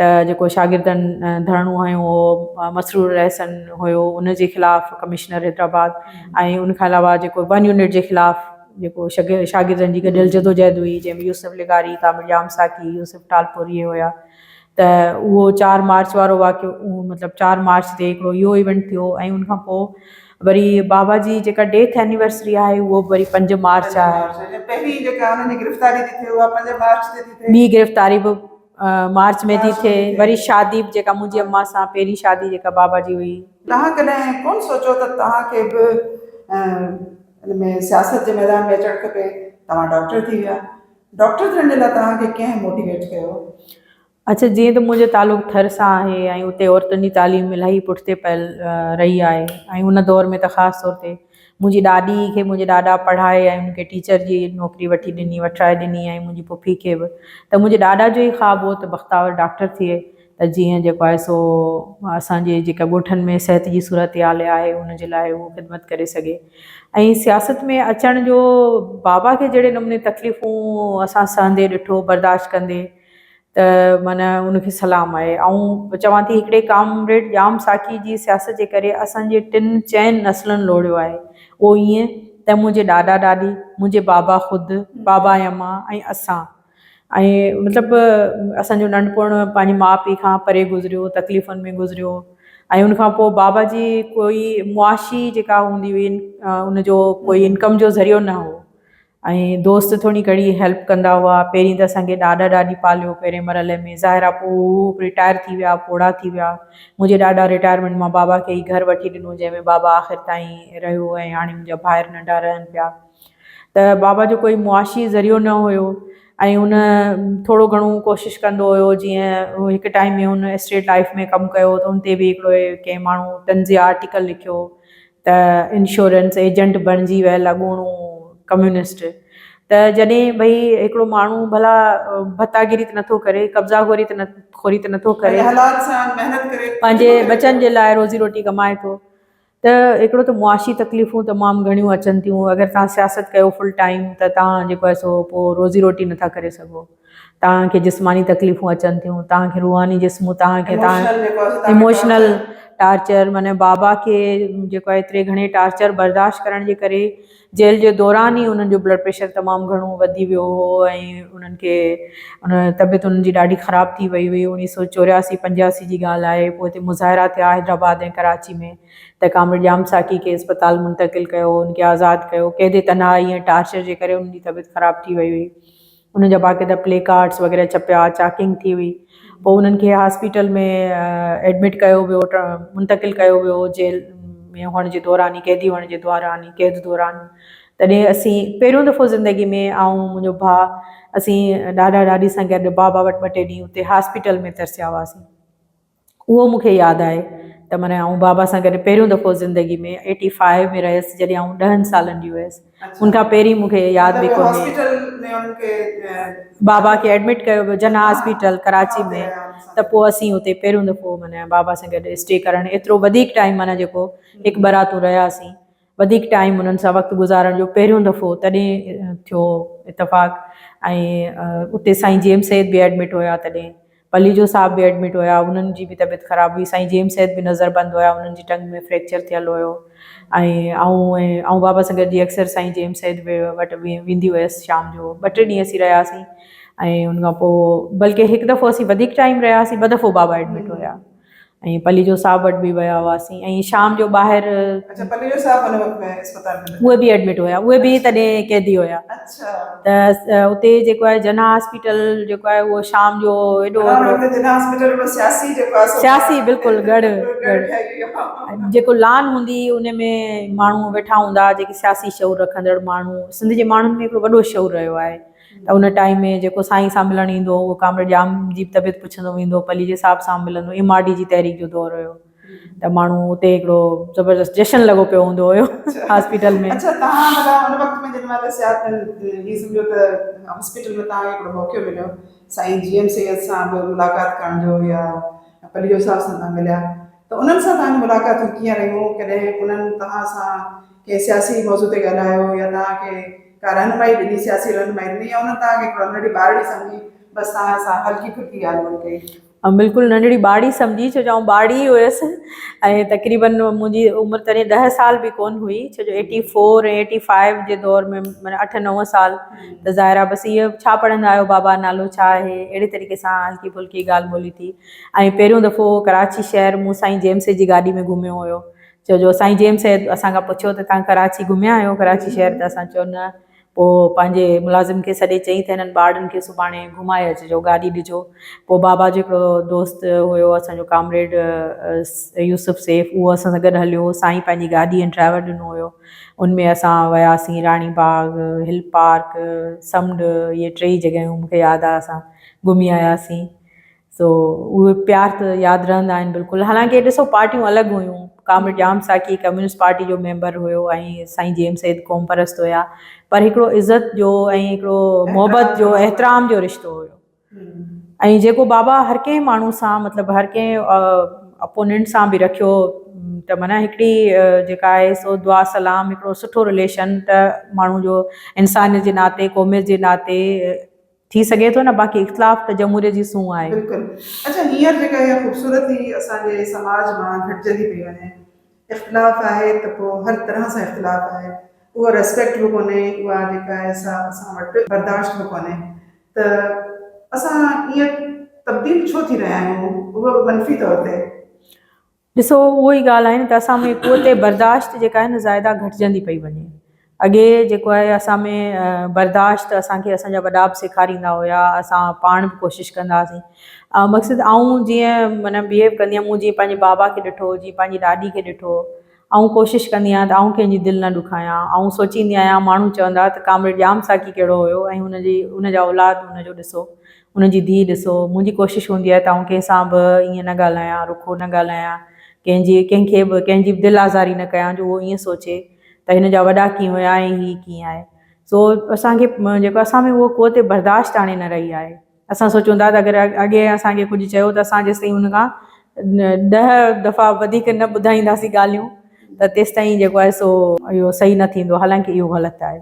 ته جيڪو شاگردن ڌرڻو هنيو هو مسرور احسن هيو ان جي خلاف ڪمشنر حيدرآباد ۽ ان کان علاوه جيڪو ون يونٽ جي خلاف جيڪو شاگردن جي گڏيل جدوجهد هئي جنهن ۾ يوسف لغاري تامڙ يام ساقي يوسف ٽالپوري هيا ته اهو چار مارچ وارو واقعو مطلب چار مارچ تي هڪڙو اهو ايونٽ ٿيو ۽ ان کان پوء وري بابا جي جيڪا ڊيٿ اينيورسري آهي اهو به وري پنج مارچ آهي پهرين جيڪا انهن جي گرفتاري ٿي ٿئي اها پنج مارچ تي ٿي ٿئي ٻي گرفتاري به مارچ ۾ ٿي ٿئي وري شادي به جيڪا منهنجي اما سان پهرين شادي جيڪا بابا جي هئي. توهان ڪڏهن ڪونه سوچيو ته توهان کي به ان ۾ سياست جي ميدان ۾ اچڻ کپي توهان ڊاڪٽر ٿي ويا. ڊاڪٽر ٿيڻ جي لاء توهان کي ڪنهن موٽيويٽ ڪيو؟ اچا جيئن ته منهنجو تعلق ٿر سان آهي ۽ اتي عورتن جي تعليم الاهي پٺتي پيل رهي آهي ۽ ان دور ۾ ته خاص طور تي منهنجي ڏاڏي کي منهنجي ڏاڏا پڙهائي ۽ ان کي ٽيچر جي نوڪري وٺي ڏني وٺرائي ڏني ۽ منهنجي پڦي کي به ته منهنجي ڏاڏا جو ئي خواب هو ته بختاور ڊاڪٽر ٿئي ته جيئن جيڪو آهي سو اسان جي جيڪا ڳوٺن ۾ صحت جي صورتحال آهي ان جي لاء اهو خدمت ڪري سگهي ۽ سياست ۾ اچڻ جو بابا کي جهڙي نموني تڪليفون اسان سهندي ڏٺو برداشت ڪندي ته معنيٰ ان کي سلام آهي آئون چوان ٿي هڪڙي ڪامريڊ ڄام ساقي جي سياست جي ڪري اسان جي ٽن چئن نسلن لوڙيو آهي اهو ائين ته منهنجي ڏاڏا ڏاڏي منهنجي بابا خود بابا ۽ امان ۽ اسان ۽ مطلب اسان جو ننڍپڻ پنهنجي ماء پيء کان پري گذريو تڪليفن ۾ گذريو ۽ ان کان پوء بابا جي ڪوئي معاشي جيڪا هوندي هئي ان جو ڪوئي انڪم جو ذريعو نه هو ۽ دوست ٿوري گهڻي هيلپ ڪندا هئا پهرين ته اسان کي ڏاڏا ڏاڏي پاليو پهرين مرحلي ۾ ظاهر آ پوء هو رٽائر ٿي ويا پوڙها ٿي ويا منهنجي ڏاڏا رٽائرمينٽ مان بابا کي ئي گهر وٺي ڏنو جنهن ۾ بابا آخر تائين رهيو ۽ هاڻي منهنجا ڀائر ننڍا رهن پيا ته بابا جو ڪوئي معاشي ذريعو نه هيو ۽ هن ٿورو گهڻو ڪوشش ڪندو هيو جيئن هڪ ٽائيم ۾ هن اسٽيٽ لائيف ۾ ڪم ڪيو ته ان تي به هڪڙو ڪنهن ماڻهو طنزيه آرٽيڪل لکيو ته انشورنس ايجنٽ بڻجي ويل اڳوڻو ڪميونسٽ ته جڏهن ڀئي هڪڙو ماڻهو ڀلا ڀتا گيري ته نٿو ڪري قبضا گوري ته خوري ته نٿو ڪري ۽ حلال سان محنت ڪري پنهنجي ٻچن جي لاء روزي روٽي ڪمائي ٿو ته هڪڙو ته معاشي تڪليفون تمام گهڻيون اچن ٿيون اگر توهان سياست ڪيو فل ٽائيم ته توهان جيڪو آهي سو پوء روزي روٽي نٿا ڪري سگهو توهان کي جسماني تڪليفون اچن ٿيون توهان کي روحاني جسم توهان کي ايموشنل ٽارچر معنيٰ بابا کي جيڪو آهي ايتري گهڻي ٽارچر برداشت ڪرڻ جي ڪري جيل جي دوران ئي انهن جو بلڊ پريشر تمام گهڻو وڌي ويو هو ۽ انهن کي طبيعت انهن جي ڏاڍي خراب ٿي وئي هئي اوڻيهه سؤ چورياسي پنجاسي جي ڳالهه آهي پوء هتي مظاهرا ٿيا حيدرآباد ۽ ڪراچي ۾ ته ڪامريڊ ڄام ساقي کي اسپتال منتقل ڪيو هن کي آزاد ڪيو قيد تنهائي ۽ ٽارچر جي ڪري انهن جي طبيعت خراب ٿي وئي هئي انهن جا باقاعده پلي ڪارڊس وغيره ڇپيا، چاڪنگ ٿي هئي، پوء انهن کي هاسپيٽل ۾ ايڊمٽ ڪيو ويو، منتقل ڪيو ويو، جيل ۾ هئڻ جي دوران ئي، قيدي هئڻ جي دوران ئي، قيد دوران تڏهن اسين پهريون دفعو زندگي ۾ آئون منهنجو ڀاء اسين ڏاڏا ڏاڏي سان گڏ بابا وٽ ٻه ٽي ڏينهن اتي هاسپيٽل ۾ ترسيا هئاسين. اهو مون کي ياد آهي ته معنيٰ آئون بابا سان گڏ پهريون دفعو زندگي ۾ ايٽي فائيو ۾ رهيس جڏهن آئون ڏهن سالن جي هيس ان کان پهرين مون کي ياد به ڪونهي بابا کي ايڊمٽ ڪيو ويو جنا هاسپيٽل ڪراچي ۾ ته پوء اسين اتي پهريون دفعو معنيٰ بابا سان گڏ اسٽي ڪرڻ ايترو وڌيڪ ٽائيم معنيٰ جيڪو هڪ براتون رهياسين وڌيڪ ٽائيم انهن سان وقت گذارڻ جو پهريون دفعو تڏهن ٿيو اتفاق ۽ اتي سائين جيئم سيد به ايڊمٽ هيا تڏهن پليجو صاحب به ايڊمٽ هيا انهن جي به طبيعت خراب هئي سائين جيئم سيد به نظر بند هيا انهن جي ٽنگ ۾ فريڪچر ٿيل هيو ۽ آئون ۽ آئون بابا سان گڏجي اڪثر سائين جيئم سيد به وٽ ويندي هيس شام جو ٻه ٽي ڏينهن اسين رهياسين ۽ ان کان پوء بلڪه هڪ دفعو اسين وڌيڪ ٽائيم رهياسين ٻه دفعو بابا ايڊمٽ هيا ۽ پليجو صاحب وٽ به ويا هئاسين ۽ شام جو ٻاهر اچا پليجو صاحب ان وقت ۾ اسپتال ۾ اهي به ايڊمٽ هيا اهي به تڏهن قيدي هيا اچا ته اتي جيڪو آهي جناح هاسپيٽل جيڪو آهي اهو شام جو ايڏو جناح هاسپيٽل به سياسي جيڪو آهي سياسي بلڪل گڙ گڙ جيڪو لان هوندي ان ۾ ماڻهو ويٺا هوندا جيڪي سياسي شعور رکندڙ ماڻهو سنڌ جي ماڻهن ۾ هڪڙو وڏو شعور رهيو آهي ته ان ٽائيم ۾ جيڪو سائين سان ملڻ ايندو هو اهو ڪامريڊ ڄام جي به طبيعت پڇندو ويندو هو پليجي صاحب سان به ملندو ايم آر ڊي جي تحريڪ جو دور هيو ته ماڻهو اتي هڪڙو زبردست جشن لڳو پيو هوندو هيو هاسپيٽل ۾ اڇا تهان ڀلا ان وقت ۾ جن مهل سياست هي سمجهو ته هاسپيٽل ۾ تهان کي هڪڙو موقعو مليو سائين جي ايم سيد سان به ملاقات ڪرڻ جو يا پليجو صاحب سان تهان مليا ته انهن سان تهان جون ملاقاتون ڪيئن رهيون ڪڏهن انهن تهان سان ڪنهن سياسي موضوع تي ڳالهايو يا تهان کي ڪا رهنمائي ڏني، سياسي رهنمائي ڏني يا انهن توهان کي هڪڙو ننڍڙي ٻارڙي سمجهي بس توهان سان هلڪي ڦلڪي ڳالهه ٻولهه ڪئي؟ آئون بلڪل ننڍڙي ٻارڙي سمجهي ڇو جو آئون ٻارڙي ئي هيس ۽ تقريبن منهنجي عمر تڏهن ڏهه سال به ڪون هئي ڇو جو ايٽي فور ۽ ايٽي فائيو جي دور ۾ معنيٰ اٺ نو سال ته ظاهر آهي بس اهي ڇا پڙهندا آهيو بابا نالو ڇا آهي اهڙي طريقي سان هلڪي ڦلڪي ڳالهه ٻولهه ٿي ۽ پهريون دفعو ڪراچي شهر مون سائين جيمس جي گاڏي ۾ گهميو هيو ڇو جو سائين جيمس سيد اسان کان پڇيو ته توهان ڪراچي گهميا آهيو ڪراچي شهر ته اسان چيو نه پوء پنهنجي ملازم کي سڏي چئي ته هنن ٻارڙن کي سڀاڻي گهمائي اچجو گاڏي ڏجو پوء بابا جو هڪڙو دوست هيو اسان جو ڪامريڊ يوسف سيف اهو اسان سان گڏ هليو سائين پنهنجي گاڏي ۽ ڊرائيور ڏنو هيو ان ۾ اسان وياسين راڻي باغ هل پارڪ سمنڊ اهي ٽيئي جڳهيون مون کي ياد آهي اسان گهمي آياسين سو اهي پيار ته ياد رهندا آهن بلڪل حالانڪه ڏسو پارٽيون الڳ هيون comrade Jam Saqi communist party جو ميمبر هيو ۽ سائين جي ايم سيد قوم پرست هيا پر هڪڙو عزت جو ۽ هڪڙو محبت جو احترام جو رشتو هيو ۽ جيڪو بابا هر ڪنهن ماڻهو سان مطلب هر ڪنهن اپوننٽ سان به رکيو ته معنی هڪڙي جيڪا آهي سو دعا سلام هڪڙو سٺو رليشن ته ماڻهو جو انسان جي ناتي قوميت جي ناتي ٿي سگهي ٿو نه باقي اختلاف ته جمهوريت جي سونهن آهي. بلڪل اچا هينئر جيڪا اها خوبصورتي اسان جي سماج مان گهٽجندي پئي وڃي اختلاف آهي ته پوء هر طرح سان اختلاف آهي اهو ريسپيڪٽ به ڪونهي اها جيڪا اهي سا اسان وٽ برداشت به ڪونهي ته اسان ايئن تبديل ڇو ٿي رهيا آهيون اهو به منفي طور تي. ڏسو اهو ئي ڳالهه آهي نه ته اسان ۾ قوت برداشت جيڪا آهي نه زائده گهٽجندي پئي وڃي. اڳي جيڪو آهي اسان ۾ برداشت اسان کي اسان جا وڏا به سيکاريندا هيا اسان پاڻ به ڪوشش ڪندا هئاسين مقصد آئون جيئن معنيٰ بيهيو ڪندي هئم مون جيئن پنهنجي بابا کي ڏٺو جيئن پنهنجي ڏاڏي کي ڏٺو آئون ڪوشش ڪندي آهيان ته آئون ڪنهن جي دل نه ڏکايان آئون سوچيندي آهيان ماڻهو چوندا ته ڪامريڊ ڄام ساقي ڪهڙو هيو ۽ هن جي هن جا اولاد هن جو ڏسو ان جي ڌيء، ڏسو، منهنجي ڪوشش هوندي آهي ته آئون ڪنهن سان به ائين نه ڳالهايان، رکو نه ڳالهايان، ڪنهن جي، ڪنهن کي به، ڪنهن جي به دل آزاري نه ڪيان جو اهو ائين سوچي ته هن جا وڏا ڪيئن هيا ۽ هيء ڪيئن آهي. سو اسان کي جيڪو اسان ۾ اها قوت برداشت هاڻي نه رهي آهي. اسان سوچون ٿا ته اگر اڳي اسان کي ڪجهه چيو ته اسان جيستائين ان کان ڏهه دفعا وڌيڪ نه ٻڌائينداسين ڳالهيون ته تيستائين جيڪو آهي سو اهو صحيح نه ٿيندو حالانڪه اهو غلط آهي.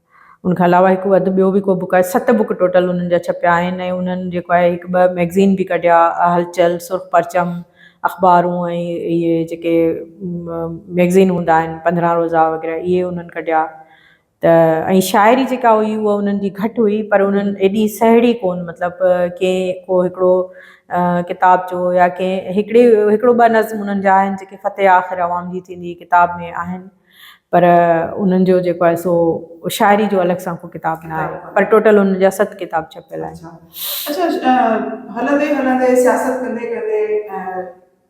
ان کان علاوه هڪ اڌ ٻيو به ڪو بوڪ آهي ست بوڪ ٽوٽل انهن جا ڇپيا آهن ۽ انهن جيڪو آهي هڪ ٻه مئگزين به ڪڍيا هلچل سرخ پرچم اخبارون ۽ اهي جيڪي مئگزين هوندا آهن پندرهن روزا وغيره اهي انهن ڪڍيا ته ۽ شاعري جيڪا هئي هو انهن جي گهٽ هئي پر انهن ايڏي سهيڙي ڪون مطلب ڪي ڪو هڪڙو ڪتاب جو يا ڪي هڪڙي هڪڙو ٻه نظم انهن جا آهن جيڪي فتح آخر عوام جي ٿيندي ڪتاب ۾ آهن پر انهن جو جيڪو آهي سو شاعري جو الڳ سان ڪو ڪتاب نه آهي پر ٽوٽل انهن جا ست ڪتاب ڇپيل آهن. اچا اچا هلندي هلندي سياست ڪندي ڪندي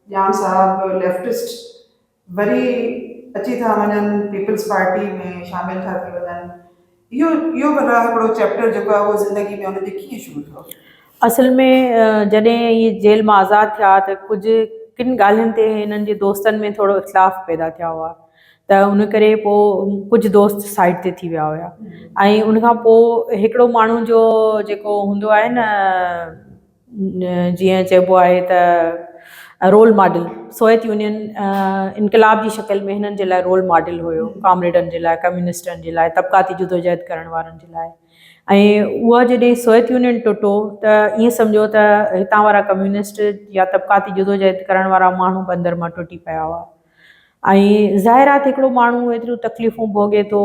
ڄام صاحب ليفٽسٽ وري اچي ٿا وڃن پيپلز پارٽي ۾ شامل ٿا ٿي وڃن اهو اهو بلا هڪڙو چيپٽر جيڪو آهي اهو زندگي ۾ ان جي ڪيئن شروع ٿيو؟ اصل ۾ جڏهن هي جيل مان آزاد ٿيا ته ڪجهه ڪن ڳالهين تي هنن جي دوستن ۾ ٿورو اختلاف پيدا ٿيا هئا ته ان ڪري پوء ڪجهه دوست سائيڊ تي ٿي ويا هيا ۽ ان کان پوء هڪڙو ماڻهو جو جيڪو هوندو آهي نه جيئن چئبو آهي ته رول ماڊل سويت يونين انقلاب جي شڪل ۾ هنن جي لاء رول ماڊل هيو ڪامريڊن جي لاء ڪميونسٽن جي لاء طبقاتي جدوجهد ڪرڻ وارن جي لاء ۽ اها جڏهن سويت يونين ٽٽو ته ائين سمجهو ته هتان وارا ڪميونسٽ يا طبقاتي جدوجهد ڪرڻ وارا ماڻهو بندر مان ٽٽي پيا هئا ۽ ظاهر آهي ته هڪڙو ماڻهو ايتريون تڪليفون ڀوڳي ٿو،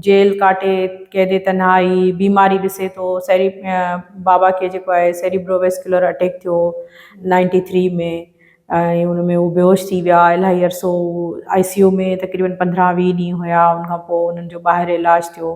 جيل ڪاٽي، قيد تنهائي، بيماري ڏسي ٿو، سيري بابا کي جيڪو آهي سيريبرو ويسڪيولر اٽيڪ ٿيو نائنٽي ٿري ۾ ۽ ان ۾ هو بيهوش ٿي ويا، الاهي عرصو آء سي يو ۾ تقريبن پندرهن ويهه ڏينهن هيا، ان کان پوء انهن جو ٻاهر علاج ٿيو.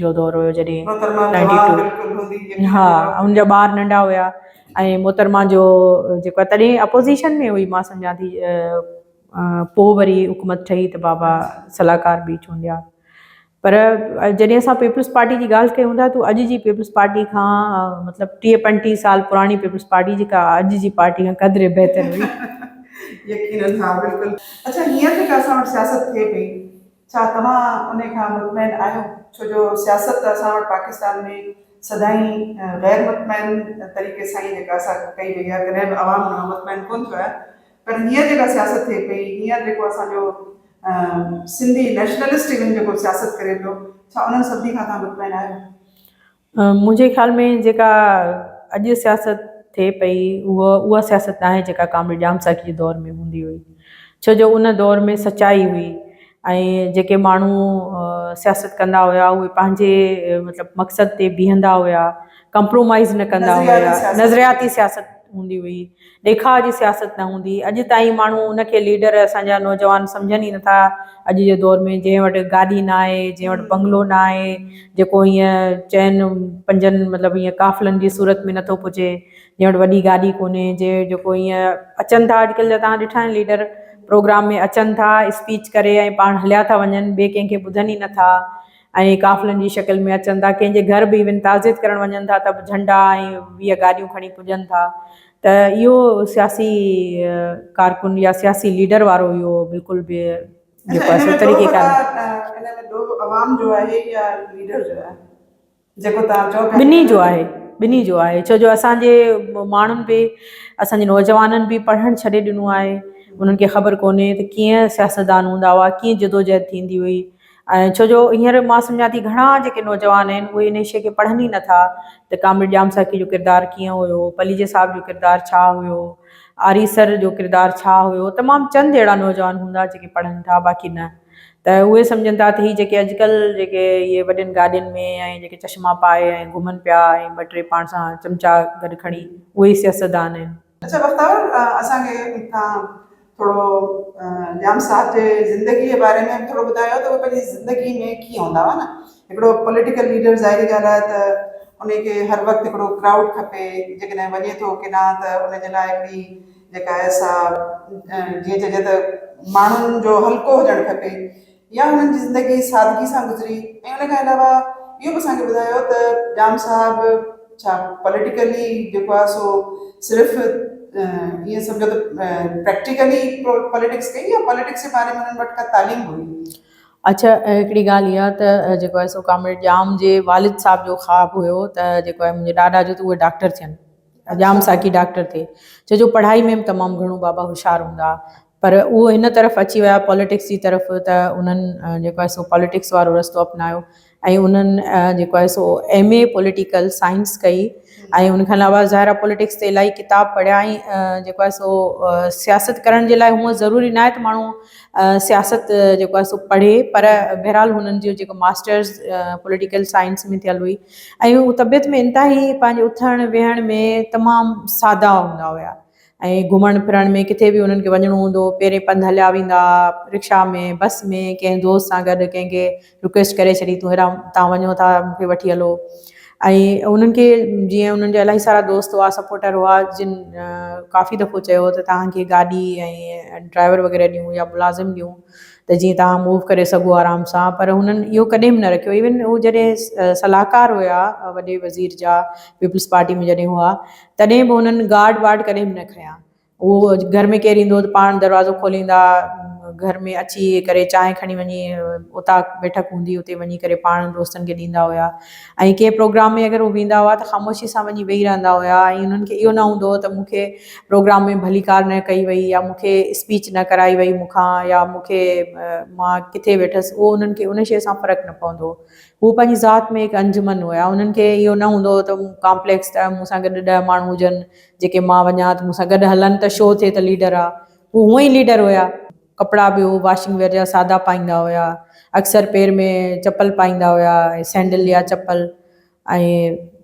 جو دور هيو جڏهن ان جا ٻار ننڍا هيا ۽ محترمه جو جيڪو آهي تڏهن اپوزيشن ۾ هئي مان سمجهان ٿي پوء وري حڪومت ٺهي ته بابا صلاحڪار به چونڊيا پر جڏهن اسان پيپلز پارٽي جي ڳالهه ڪيون ٿا تو اڄ جي پيپلز پارٽي کان مطلب ٽيهه پنجٽيهه سال پراڻي پيپلز پارٽي جيڪا اڄ جي پارٽي کان قدري بهتر هئي. ڇا توهان انهي کان مطمئن آهيو؟ ڇو جو سياست ته اسان وٽ پاڪستان ۾ سدائين غير مطمئن طريقي سان ئي جيڪا سا ڪئي وئي آهي، ڪڏهن به عوام ان مان مطمئن ڪونه ٿيو آهي پر هينئر جيڪا سياست ٿئي پئي، هينئر جيڪو اسان جو سنڌي نيشنلسٽ ايون جيڪو سياست ڪري پيو، ڇا انهن سڀني کان توهان مطمئن آهيو؟ منهنجي خيال ۾ جيڪا اڄ سياست ٿئي پئي اهو اها سياست ناهي جيڪا ڪامريڊ ڄام ساقي جي دور ۾ هوندي هئي ڇو جو ان دور ۾ سچائي هئي ۽ جيڪي ماڻهو سياست ڪندا هيا اهي پنهنجي مطلب مقصد تي بيهندا هيا ڪمپرومائز نه ڪندا هيا نظرياتي سياست هوندي هئي ڏيکاء جي سياست نه هوندي. اڄ تائين ماڻهو ان کي ليڊر اسان جا نوجوان سمجهن ئي نٿا اڄ جي دور ۾ جنهن وٽ گاڏي نه آهي جنهن وٽ بنگلو نه آهي جيڪو ائين چئن پنجن مطلب ائين قافلن جي صورت ۾ نٿو پڄي جنهن وٽ وڏي گاڏي ڪونهي جي جيڪو ائين اچن ٿا اڄ ڪلهه جا تان ڏٺا آهن ليڊر پروگرام ۾ اچن ٿا اسپيچ ڪري ۽ پاڻ هليا ٿا وڃن ٻي ڪنهن کي ٻڌن ئي نٿا ائين قافلن جي شڪل ۾ اچن ٿا ڪنهن جي گهر به ايون تعزيت ڪرڻ وڃن ٿا ته به جهنڊا ۽ ويهه گاڏيون کڻي پڄن ٿا ته اهو سياسي ڪارڪن يا سياسي ليڊر وارو اهو بلڪل به جيڪو آهي سو طريقي ڪانهي. ٻنهي جو آهي ٻنهي جو آهي ڇو جو اسان جي ماڻهن به اسان جي نوجوانن به پڙهڻ ڇڏي ڏنو آهي انهن کي خبر ڪونهي ته ڪيئن سياستدان هوندا هئا ڪيئن جدوجهد ٿيندي هئي ۽ ڇو جو هينئر مان سمجهان ٿي گهڻا جيڪي نوجوان آهن اهي ان شيء کي پڙهن ئي نٿا ته ڪامريڊ ڄام ساقي جو ڪردار ڪيئن هيو، پليجي صاحب جو ڪردار ڇا هيو، آري سر جو ڪردار ڇا هيو، تمام چند اهڙا نوجوان هوندا جيڪي پڙهن ٿا باقي نه ته اهي سمجهن ٿا ته هي جيڪي اڄڪلهه جيڪي اهي وڏين گاڏين ۾ ۽ جيڪي چشما پائي ۽ گهمن پيا ۽ ٻه ٽي پاڻ سان چمچا گڏ کڻي اهي سياستدان آهن. اچا بختاور اسان کي تان ٿورو ڄام صاحب جي زندگي جي باري ۾ به ٿورو ٻڌايو ته هو پنهنجي زندگي ۾ ڪيئن هوندا هئا نه هڪڙو پوليٽيڪل ليڊر ظاهري ڳالهه آهي ته ان کي هر وقت هڪڙو ڪرائوڊ کپي جيڪڏهن وڃي ٿو ڪيڏانهن ته ان جي لاء هڪڙي جيڪا آهي سا جيئن چئجي ته ماڻهن جو حلقو هجڻ کپي يا انهن جي زندگي سادگي سان گذري ۽ ان کان علاوه اهو به اسان کي ٻڌايو ته ڄام صاحب ڇا پاليٽيڪلي جيڪو آهي سو صرف ائين سمجهو ته پريڪٽيڪلي پاليٽڪس ڪئي يا پاليٽڪس جي باري ۾ انهن وٽ ڪا تعليم هئي؟ اڇا هڪڙي ڳالهه اها ته جيڪو آهي سو ڪامريڊ ڄام جي والد صاحب جو خواب هيو ته جيڪو آهي منهنجي ڏاڏا جو ته اهي ڊاڪٽر ٿين. ڄام ساقي ڊاڪٽر ٿي ڇو جو پڙهائي ۾ به تمام گهڻو بابا هوشيار هوندا ها پر اهو هن طرف اچي ويا پاليٽڪس جي طرف ته انهن جيڪو آهي سو پاليٽڪس وارو رستو اپنايو ۽ انهن جيڪو آهي سو ايم اي پوليٽيڪل سائنس ڪئي ۽ ان کان علاوه ظاهر آهي پوليٽڪس تي الاهي ڪتاب پڙهيا ۽ جيڪو آهي سو سياست ڪرڻ جي لاء هونئن ضروري ناهي ته ماڻهو سياست جيڪو آهي سو پڙهي پر بهرحال هنن جو جيڪو ماسٽرس پوليٽيڪل سائنس ۾ ٿيل هئي ۽ هو طبيعت ۾ انتهائي پنهنجي اٿڻ ويهڻ ۾ تمام سادا هوندا هيا ۽ گهمڻ ڦرڻ ۾ ڪٿي به انهن کي وڃڻو هوندو هو پيرين پنڌ هليا ويندا ها رڪشا ۾ بس ۾ ڪنهن دوست سان گڏ ڪنهن کي رڪويسٽ ڪري ڇڏي تون هيڏانهن تان وڃو ٿا مون کي وٺي هلو ۽ انهن کي جيئن انهن جا الاهي سارا دوست هئا سپورٽر هئا جن ڪافي دفعو چيو ته توهان کي گاڏي ۽ ڊرائيور وغيره ڏيون يا ملازم ڏيون ته جيئن توهان موو ڪري سگهو آرام سان پر هنن اهو ڪڏهن به نه رکيو ايون هو جڏهن صلاحڪار هيا وڏي وزير جا پيپلز پارٽي ۾ جڏهن هئا تڏهن به هنن گارڊ وارڊ ڪڏهن به نه کنيا اهو گهر ۾ ڪير ايندو هو ته پاڻ دروازو کوليندا گهر ۾ اچي ڪري چانهه کڻي وڃي اتاق بيٺڪ هوندي اتي وڃي ڪري پاڻ دوستن کي ڏيندا هيا ۽ ڪنهن پروگرام ۾ اگر هو ويندا هئا ته خاموشي سان وڃي ويهي رهندا هيا ۽ انهن کي اهو نه هوندو هو ته مون کي پروگرام ۾ ڀليڪار نه ڪئي وئي يا مون کي اسپيچ نه ڪرائي وئي مون کان يا مون کي مان ڪٿي ويٺس اهو انهن کي ان شيء سان فرق نه پوندو هو هو پنهنجي ذات ۾ هڪ انجمن هيا انهن کي اهو نه هوندو هو ته ڪامپليڪس ته مون سان گڏ ڏهه ماڻهو هجن جيڪي مان وڃان ته مون سان گڏ هلن ته شو ٿئي ته ليڊر آ هو هونئن ئي ليڊر هيا ڪپڙا به هو واشنگ ويئر جا سادا پائيندا هيا. اڪثر پير ۾ چپل پائيندا هيا ۽ سينڊل يا چپل ۽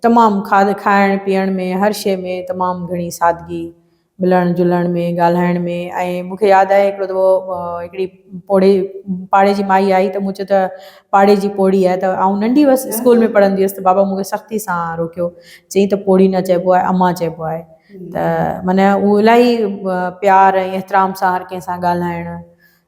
تمام کاڌ کائڻ پيئڻ ۾ هر شيء ۾ تمام گهڻي سادگي، ملڻ جلڻ ۾ ڳالهائڻ ۾ ۽ مون کي ياد آهي هڪڙو دفعو هڪڙي پوڙهي پاڙي جي مائي آئي ته مون چيو ته پاڙي جي پوڙهي آهي ته آئون ننڍي هئس اسڪول ۾ پڙهندي هئس ته بابا مون کي سختي سان روڪيو چيائين ته پوڙهي نه چئبو آهي امان چئبو آهي. ته معنيٰ هو الاهي پيار ۽ احترام سان هر ڪنهن سان ڳالهائڻ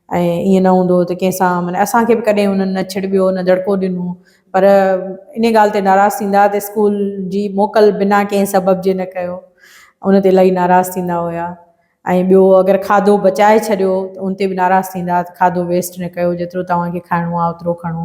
۽ ائين نه هوندو هو ته ڪنهن سان معنيٰ اسان کي به ڪڏهن هنن نه ڇڙٻيو نه دڙڪو ڏنو پر انهي ڳالهه تي ناراض ٿيندا ته اسڪول جي موڪل بنا ڪنهن سبب جي نه ڪيو ان تي الاهي ناراض ٿيندا هيا ۽ ٻيو اگر کاڌو بچائي ڇڏيو ته ان تي به ناراض ٿيندا ته کاڌو ويسٽ نه ڪيو جيترو توهان کي کائڻو آهي اوترو کڻو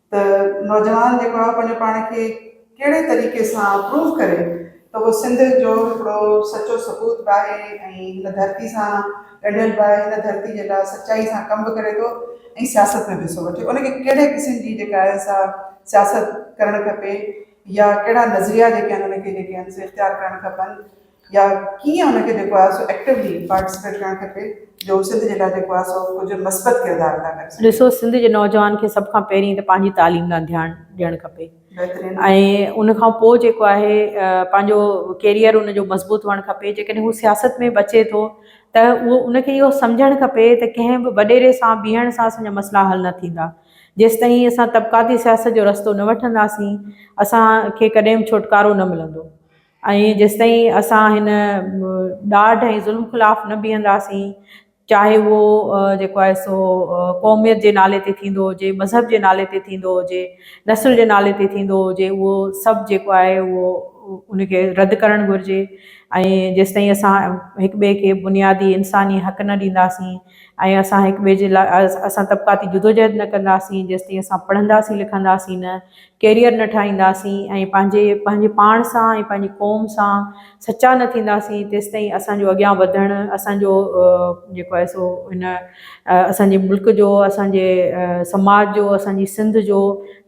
ته نوجوان جيڪو آهي پنهنجو پاڻ کي ڪهڙي طريقي سان پروف ڪري ته اهو سنڌ جو هڪڙو سچو سپوت به آهي ۽ هن ڌرتي سان ڳنڍيل به آهي هن ڌرتي جي لاء سچائي سان ڪم به ڪري ٿو ۽ سياست ۾ به حصو وٺي ان کي ڪهڙي قسم جي جيڪا آهي سا سياست ڪرڻ کپي يا ڪهڙا نظريا جيڪي آهن ان کي جيڪي آهن سي اختيار ڪرڻ کپن يا ڪيئن ان کي جيڪو آهي سو ايڪٽوي پارٽيسپيٽ ڪرڻ کپي جو سنڌ جي لاء جيڪو آهي سو ڪجهه مثبت ڪردار ادا ڪري سگهي. ڏسو سنڌ جي نوجوان کي سڀ کان پهرين ته پنهنجي تعليم ڏانهن ڌيان ڏيڻ کپي بهترين ۽ ان کان پوء جيڪو آهي پنهنجو ڪيريئر ان جو مضبوط هئڻ کپي جيڪڏهن هو سياست ۾ به اچي ٿو ته اهو ان کي اهو سمجهڻ کپي ته ڪنهن به وڏيري سان بيهڻ سان اسان جا مسئلا حل نه ٿيندا جيستائين اسان طبقاتي سياست جو رستو نه وٺنداسين اسان کي ڪڏهن به ڇوٽڪارو نه ملندو. ۽ جيستائين اسان هن ڏاڍ ۽ ظلم خلاف نه بيهنداسين چاهي اهو جيڪو آهي سو قوميت جي نالي تي ٿيندو هجي، مذهب جي نالي تي ٿيندو هجي، نسل جي نالي تي ٿيندو هجي اهو سڀ جيڪو آهي اهو ان کي رد ڪرڻ گهرجي ۽ جيستائين اسان هڪ ٻئي کي بنيادي انساني حق نه ڏينداسين ۽ اسان هڪ ٻئي جي لاء اسان طبقاتي جدوجهد نه ڪنداسين جيستائين اسان پڙهنداسين لکنداسين نه ڪيريئر نه ٺاهينداسين ۽ پنهنجي پنهنجي پاڻ سان ۽ پنهنجي قوم سان سچا نه ٿينداسين تيستائين اسان جو اڳيان وڌڻ اسان جو جيڪو آهي سو هن اسان جي ملڪ جو اسان جي سماج جو اسان جي سنڌ جو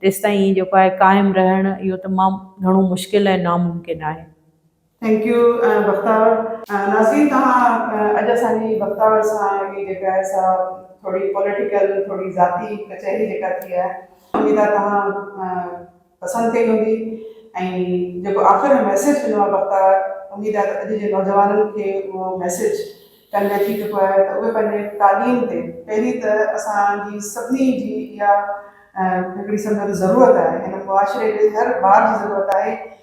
تيستائين جيڪو آهي قائم رهڻ اهو تمام گهڻو مشڪل ۽ ناممڪن آهي ٿينڪ يو بختاور. ناظرين توهان اڄ اسان جي بختاور سان هي جيڪا آهي سا ٿوري پوليٽيڪل ٿوري ذاتي ڪچهري جيڪا ٿي آهي اميد آهي توهان پسند ڪئي هوندي ۽ جيڪو آخر ۾ ميسيج ڏنو آهي بختاور اميد آهي ته اڄ جي نوجوانن کي اهو ميسيج ڪنوي ٿي چڪو آهي ته اهي پنهنجي تعليم تي پهرين ته اسان جي سڀني جي اها هڪڙي سمجهو ته ضرورت آهي هن معاشري جي هر ٻار جي ضرورت آهي